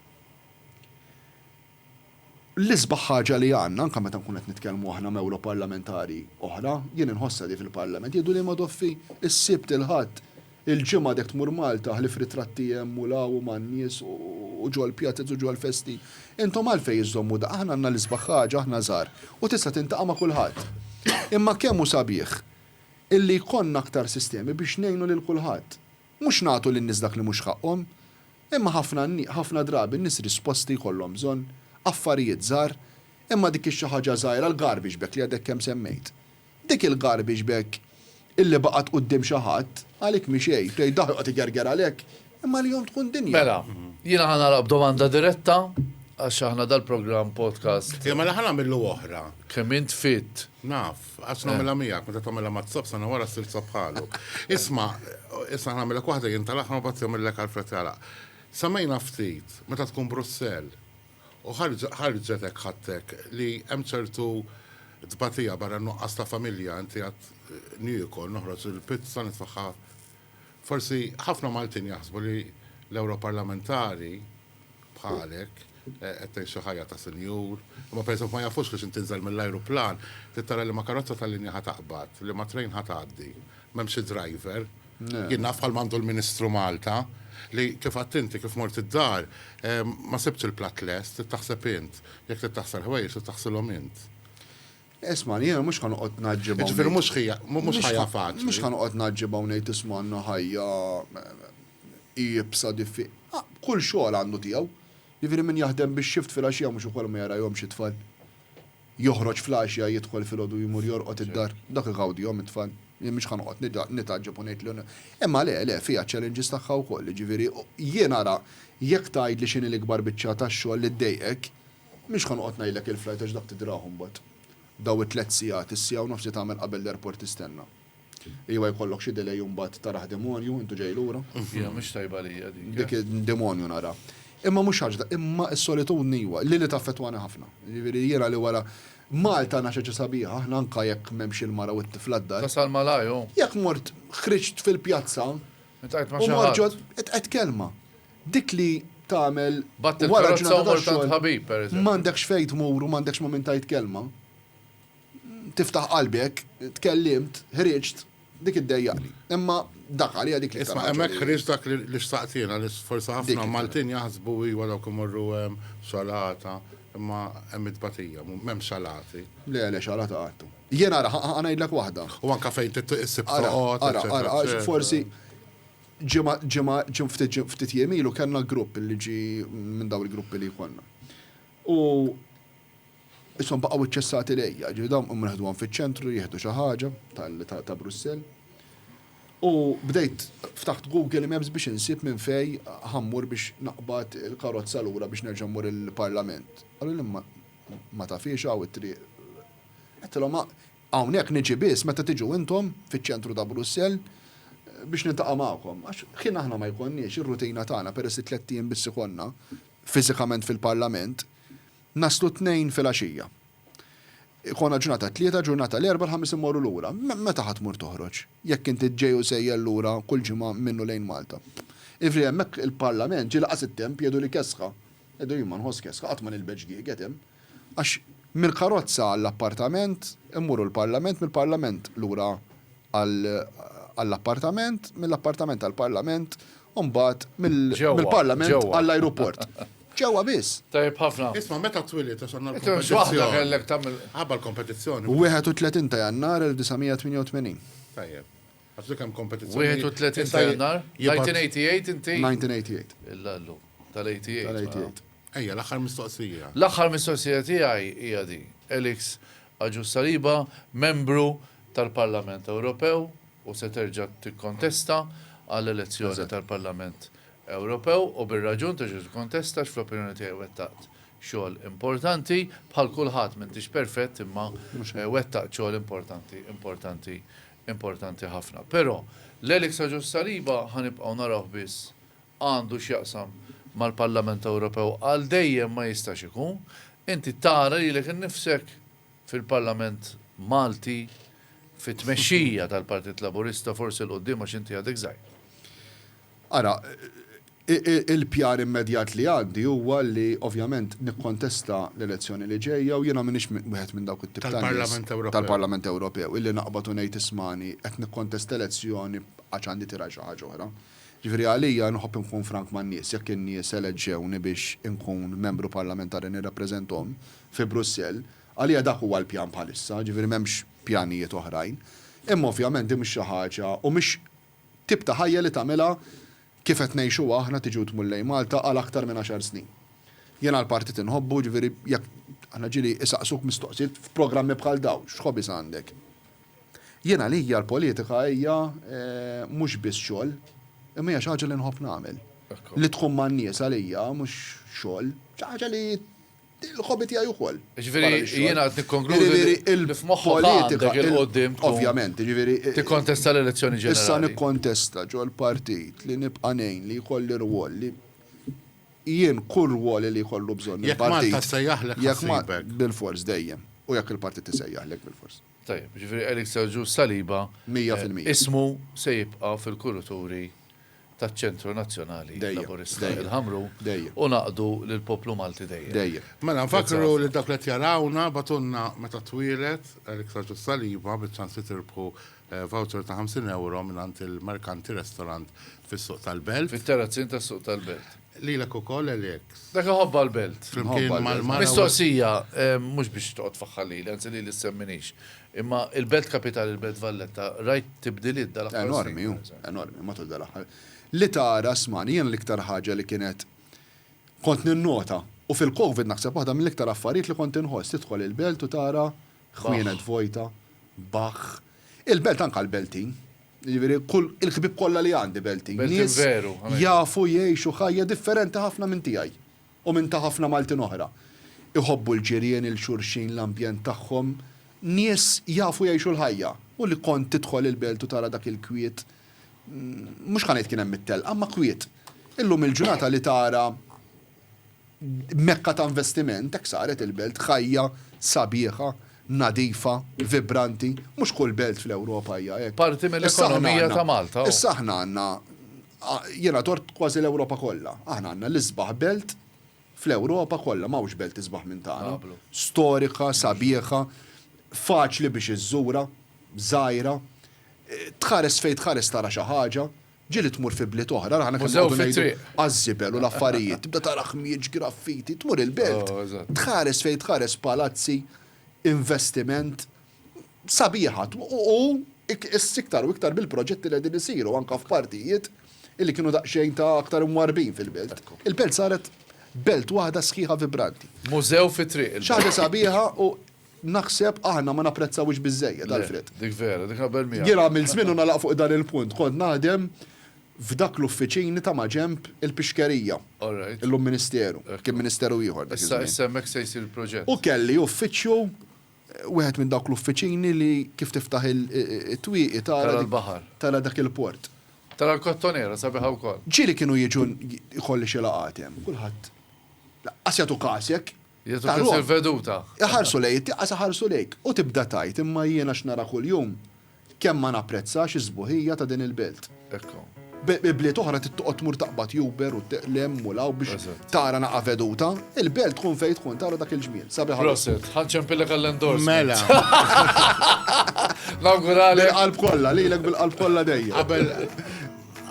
A: L-isbaħ ħaġa li għandna, anke meta nkunu qed nitkellmu aħna m'ewroparlamentari oħra, jien inħossha di fil-Parlament, jgħidu li Madoffi s-Sibt, il-Ħadd, Il-Ġimgħa għadek tmur Malta, ħlief ritratti hemm u 'l hawn u man-nies u ġol-pjazez u ġol-festi. Intom għalfejn iżżommu da? Aħna għandna l-isbaħ ħaġa, aħna żgħar, u tista' tintaqa' ma' kulħadd. Imma kemm hu sabiħ illi jkollna aktar sistemi biex ngħinu lil kulħadd. Mhux nagħtu lin-nies dak li mhux ħaqqhom. Imma ħafna ħafna drabi n-nies risposti jkollhom bżonn, affarijiet żgħar, imma dik ix-xi ħaġa żgħira, l-garbage bag li għadek kemm semmejt. Dik il-garbage bag illi baqgħet quddiem xi ħadd, għalik mhi xejn, tgħid daħlu qed igerger għalhekk, imma għalihom tkun dinja. Mela, jiena ħa nagħlaq b'domanda diretta, għax aħna dal-programm podcast. Iva, mela ħa nagħmillu oħra. Kemm int fit. Naf, għax nagħmilha miegħek, meta tagħmilha mat-sob sena wara ssir sob bħalu. Isma', issa nagħmilek waħda jien tal-aħħar u mbagħad jagħmillek Alfred jagħlaq. Semmejna ftit, meta tkun Brussell, U ħarġet hekk ħadtek li hemm ċertu tbatija barra n-nuqqas ta' familja inti għad niekol, noħroġ il-pizza nitfagħha Forsi ħafna Maltin jaħsbu li l-Ewroparlamentari bħalek qed tgħixu ħajja ta' sinjur, imma pereżempju ma jafux li xi tinżel mill-ajruplan trid tara liema karozza tal-linja ħa taqbad, liema train ħa tgħaddi, m'hemm xi driver, Jien naf bħalma għandu l-Ministru Malta li kif għedt inti kif mort id-dar ma sibtx il-platt lest, trid taħseb int. Jekk trid taħsel ħwejjeġ trid taħsilhom int. Ismagħni, jiena mhux ħa noqgħod ngħaġġeb hawn. Jiġifieri mhux ħija, mhux ħajja faċli. Mhux ħa noqgħod ngħaġġeb hawn ngħid isma' għandna ħajja iebsa diffi. Kull xogħol għandu tiegħu. Jiġifieri min jaħdem bix-shift filgħaxija mhux ukoll ma jarahomx it-tfal. Joħroġ fl-għaxja, jidħol filgħodu u jmur jorqod id-dar. Dak igawdihom it-tfal. Jien mhux ħa noqgħod nitgħaġġeb u ngħid li. Imma le, le, fiha ċ-challenges tagħha wkoll. Jiġifieri, jien ara, jekk tgħidli x'inhi l-ikbar biċċa ta' xogħol li ddejqek, mhux ħa noqgħod ngħidlek il-flight għax dak tidrahu mbagħad. Daw it-tliet sigħat, is-siegħa u nofs li tagħmel qabel l-airport tistenna. Iva jkollok xi delay imbagħad taraħ demonju, intu ġej lura. Iva mhix tajba lija dik. Dik id-demonju nara. Imma mhux ħaġa, imma s-solitudni iva, li li taffettwani ħafna. Jiġifieri jiena li wara Malta għandna xi ħaġa sabiħa, aħna anke jekk m'hemmx il-mara u t-tifla d-dar. Tasal malajr u. Jekk mort ħriġt fil-pjazza. Iltqajt ma' xi ħadd. U mort ġod, iltqajt kelma. Dik li tagħmel wara ġurnata ta' xogħol. B'att il-karozza u mort għand ħabib, pereżempju. M'għandekx fejn tmur u m'għandekx ma' min tgħid kelma. tiftaħ qalbi hekk, tkellimt, ħriġt, dik iddejjaqni. Imma dak għalija dik l-iktar. Isma' hemmhekk ħriġt dak li xtaqt jiena li forsi ħafna Maltin jaħsbu iva dawk imorru hemm salata, imma hemm it-tbatija, m'hemmx salati. Le, le, salata qatt. Jien ara, ħa ngħidlek waħda. U anke fejn trid issib toqgħod. Ara, ara, ara, forsi ġimgħa, ġimgħa, ftit jiem ilu kellna grupp li ġie minn dawn il-gruppi li jkollna. U Ishom baqgħu iċċessati lejja, jiġifieri dawn qum neħduhom fiċ-ċentru jieħdu xi ħaġa ta' Brussell. U bdejt ftaħt Google Maps biex insib minn fej ħa mmur biex naqbad il-karozza lura biex nerġa' mmur il-Parlament. Qaluli imma ma tafhiex hawn it-triq. Għedtilhom hawnhekk niġi biss meta tiġu intom fiċ-ċentru ta' Brussell biex niltaqa' magħkom. Għax ħin aħna ma jkollniex, ir-rutina tagħna peress li tlett ijiem biss ikollna fiżikament fil-Parlament, Naslu t-Tnejn filgħaxija. Ikollna ġurnata t-Tlieta, ġurnata l-Erbgħa, l-Ħamis immorru lura. Meta ħa tmur toħroġ, jekk inti ġej u sejjer lura kull ġimgħa minn u lejn Malta? Jiġifieri hemmhekk il-Parlament ġie laqas it-temp jgħidu li kesħa. Jgħidu jien ma nħoss kesħa, qatt ma nilbes ġdieget hemm. Għax mill-karozza għall-appartament immorru l-Parlament, mill-Parlament lura għall-appartament, mill-appartament għall-Parlament u mbagħad mill-Parlament għall-ajruport. Ġewwa biss. Tajjeb ħafna. Isma' meta twilid għax għandna l-kompetizzjoni. kellek tagħmel ħabba l-kompetizzjoni. 31 ta' Jannar 1988. Tajjeb. Għax dik hemm kompetizzjoni. 31 ta' Jannar? 1988 inti? 1988. Il-lallu. Tal-88. Ejja, l-aħħar mistoqsija. L-aħħar mistoqsija tiegħi hija di. Elix, Agius Saliba, Membru tal-Parlament Ewropew u se terġa' tikkontesta għall-elezzjoni tal-Parlament Ewropew u bir-raġun terġa' tikkontesta għax fl-opinjoni tiegħi wettaqt xogħol importanti, bħal kulħadd m'intix perfett imma wettaqt xogħol importanti, importanti, importanti ħafna. Però, l-Alex Agius Saliba ħa nibqgħu narawh biss għandu x'jaqsam mal-Parlament Ewropew għal dejjem ma jistax ikun. Inti tara lilek innifsek fil-Parlament Malti fit-tmexxija tal-Partit Laburista forsi 'l quddiem għax inti għadek żgħir. Ara, il-pjar immedjat li għandi huwa li ovvjament nikkontesta l-elezzjoni li ġejja u jiena m'iniex wieħed minn dawk it-tip ta' nies tal-Parlament Ewropew illi naqbad u ngħid ismagħni qed nikkontesta elezzjoni għax għandi tira xi ħaġa oħra. Jiġifieri għalija nħobb inkun frank man-nies, jekk in-nies eleġġewni biex inkun Membru Parlamentari nirrappreżenthom fi Brussell, għalija dak huwa l-pjan bħalissa, jiġifieri m'hemmx pjanijiet oħrajn. Imma ovvjament din mhix xi ħaġa u mhix tip ta' ħajja li tagħmilha kif qed ngħixuha aħna tiġi u tmur lejn Malta għal aktar minn għaxar snin. Jiena l-partit inħobbu, jiġifieri jekk aħna ġieli isaqsuk mistoqsijiet f'programmi bħal dawn, x'hobbies għandek? Jien għalija l-politika hija mhux biss xogħol, imma hija xi ħaġa li nħobb nagħmel. Li tkun man-nies għalija mhux xogħol, xi ħaġa li l-hobby tiegħi wkoll. Jiġifieri jiena qed nikkonkludi li f'moħħok għandek il-quddiem tkun. Ovvjament, jiġifieri. Tikkontesta l-elezzjoni ġenerali. Issa nikkontesta ġol-partit li nibqa' ngħin li jkolli rwol li jien kull rwol li jkollu bżonn il-partit. Jekk Malta ssejjaħlek ħassibek. Bilfors dejjem. U jekk il-partit isejjaħlek bilfors. Tajjeb, jiġifieri Eric Sergiu Saliba ismu se jibqa' fil-kurituri taċ-Ċentru Nazzjonali Laburista inħammru u ngħaqqdu lill-poplu Malti dejjem. Mela nfakkru lil dawk li qed jarawna, bagħtulna meta twieled Eric Sergiu Saliba biċ-ċans li tirbħu voucher ta' 50 ewro mingħand il-Mercanti Restaurant fis-Suq tal-Belt. Fit-Terrazzin tas-Suq tal-Belt. Lilek ukoll Alex. Dak iħobbha l-belt. Flimkien mal-mara. Mistoqsija, mhux biex toqgħod tfaħħar lili, anzi lili ssemminiehx. Imma l-belt kapitali, il-Belt Valletta, rajt tibdiliet dal-aħħar snin? Enormi hu, enormi matul dal-aħħar. Li tara, smani, jiena l-iktar ħaġa li kienet kont ninnota, u fil-Covid naħseb waħda mill-iktar affarijiet li kont inħoss, tidħol il-belt u tara ħwienet vojta, baħħ. Il-belt anke għall-Beltin. Jiġifieri kull il-ħbieb kollha li għandi Beltin. Beltin veru. Jafu jgħixu ħajja differenti ħafna minn tiegħi u minn ta' ħafna Maltin oħra. Iħobbu l-ġirien, il-xulxin, l-ambjent tagħhom. Nies jafu jgħixu l-ħajja. U li kont tidħol il-Belt u tara dak il-kwiet, mhux ħa ngħid kien hemm it-telqa, imma kwiet. Illum il-ġurnata li tara Mekka ta' investiment, hekk saret il-belt, ħajja, sabiħa, nadifa, vibranti, mhux kull belt fl-Ewropa hija hekk. Parti mill-ekonomija ta' Malta. Issa aħna għandna, jiena dort kważi l-Ewropa kollha, aħna għandna l-isbaħ belt fl-Ewropa kollha, m'hawnx belt isbaħ minn tagħna, storika, sabiħa, faċli biex iżżurha, żgħira, tħares fejn tħares tara xi ħaġa. Ġieli tmur fi bliet oħra, aħna kemm noqogħdu ngħidu għaż-żibel u l-affarijiet, tibda tara ħmieġ, graffiti, tmur il-belt, tħares fejn tħares palazzi, investiment, sabiħa u issa iktar u iktar bil-proġetti li qegħdin isiru anke f'partijiet illi kienu daqsxejn ta' aktar imwarrbin fil-belt. Il-belt saret belt waħda sħiħa vibranti. Mużew fit-triq. Xi ħaġa sabiħa u Naħseb aħna ma napprezzawhiex biżżejjed, Alfred. Le, dik vera, dik naqbel miegħek. Jien għamilt żmien u nagħlaq fuq dan il-punt, kont naħdem f'dak l-uffiċini ta' maġenb il-pixkerija. All right. Illum ministeru. Ekku. Kien ministeru ieħor dak iż-żmien. Issa, issa hemmhekk se jsir il-proġett. U kelli uffiċċju, wieħed minn dawk l-uffiċini li kif tiftaħ it-twieqi tara. Tara l-baħar. Tara dak il-port. Tara l-Kottonera, sabiħa wkoll. Ġieli kienu jiġu, jkolli xi laqgħat hemm, kulħadd laqqas jagħtu kas jekk. Jieħdu Taruhom. pis il-veduta. Iħarsu lejn it-tieqa sa ħarsu lejk, u tibda tgħid, imma jiena x'nara kuljum, kemm ma napprezzax is-sbuħija ta' din il-belt. Hekk. B, Bliet oħra trid toqgħod tmur taqbad Uber u t, l-hemm u l-hawn biex Eżatt. tara naqa' veduta. Il-belt tkun fejn tkun tara dak il-ġmiel. Sabiħ għal Prosit, uħud. ħa nċempillek għall-endorsement. Mela. Nawguralek. Bil-qalb kollha, lilek bil-qalb kollha dejjem. Qabel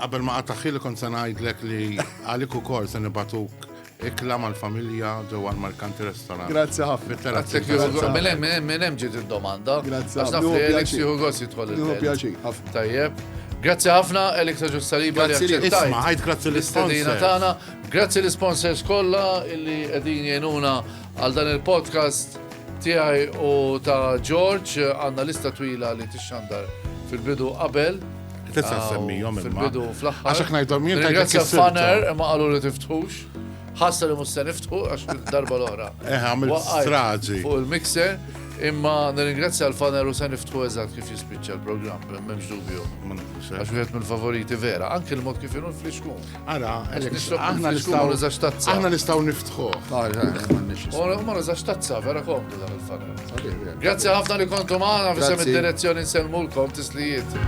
A: qabel ma qataħ ħili kont se ngħidlek li għalik ukoll se nibagħtuk Ikla mal-familja ġewwa l-Merkanti Restaurant. Grazzi ħafna. Grazzi ħafna. Mela hemm hemm hemm ġiet id-domanda. Grazzi ħafna. Għax naf li Elix jieħu gost jidħol. Jieħu pjaċir ħafna. Tajjeb. Grazzi ħafna Elix ta' Ġussaliba li aċċettajt. Ħajt grazzi l-istadina tagħna. Grazzi l-sponsors kollha li qegħdin jgħinuna Għal dan il-podcast tiegħi u ta' George għandna lista twila li tixxandar fil-bidu qabel. Tista' semmijhom fil-bidu fl-aħħar. Għax ngħidhom jien ta' Grazzi Fanner imma qalu li tiftħux. Ħassa li mhux se niftħu għax darba l-oħra. Eh, għamil straġi. Fuq il-mixer. Imma nirringrazzja l-faner u se niftħu eżatt kif jispiċċa l-programm, m'hemmx dubju. Għax wieħed mill-favoriti vera, anke l-mod kif inhu l-flixkun. Ara, aħna nistaw nizax tazza. Aħna nistaw niftħu. Ora, ma nizax tazza, vera komdu dan il-fanna. Grazie ħafna li kontu maħna, bisem id-direzzjoni nselmulkom tislijiet.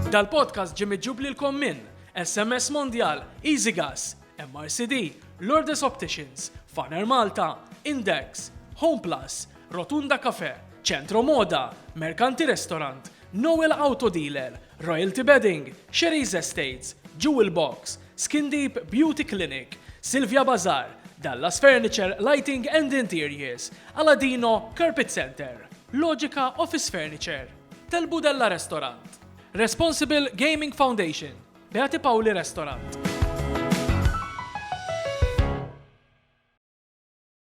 A: Dal-podcast ġimmi ġubli l-kommin, SMS Mondial, Easy Gas, MRCD, Lourdes Opticians, Faner Malta, Index, Home Plus, Rotunda Cafe, Centro Moda, Mercanti Restaurant, Noel Auto Dealer, Royalty Bedding, Sherry's Estates, Jewel Box, Skin Deep Beauty Clinic, Silvia Bazaar, Dallas Furniture Lighting and Interiors, Aladino Carpet Center, Logica Office Furniture, Telbudella Restaurant, Responsible Gaming Foundation, Beati Paoli Restaurant.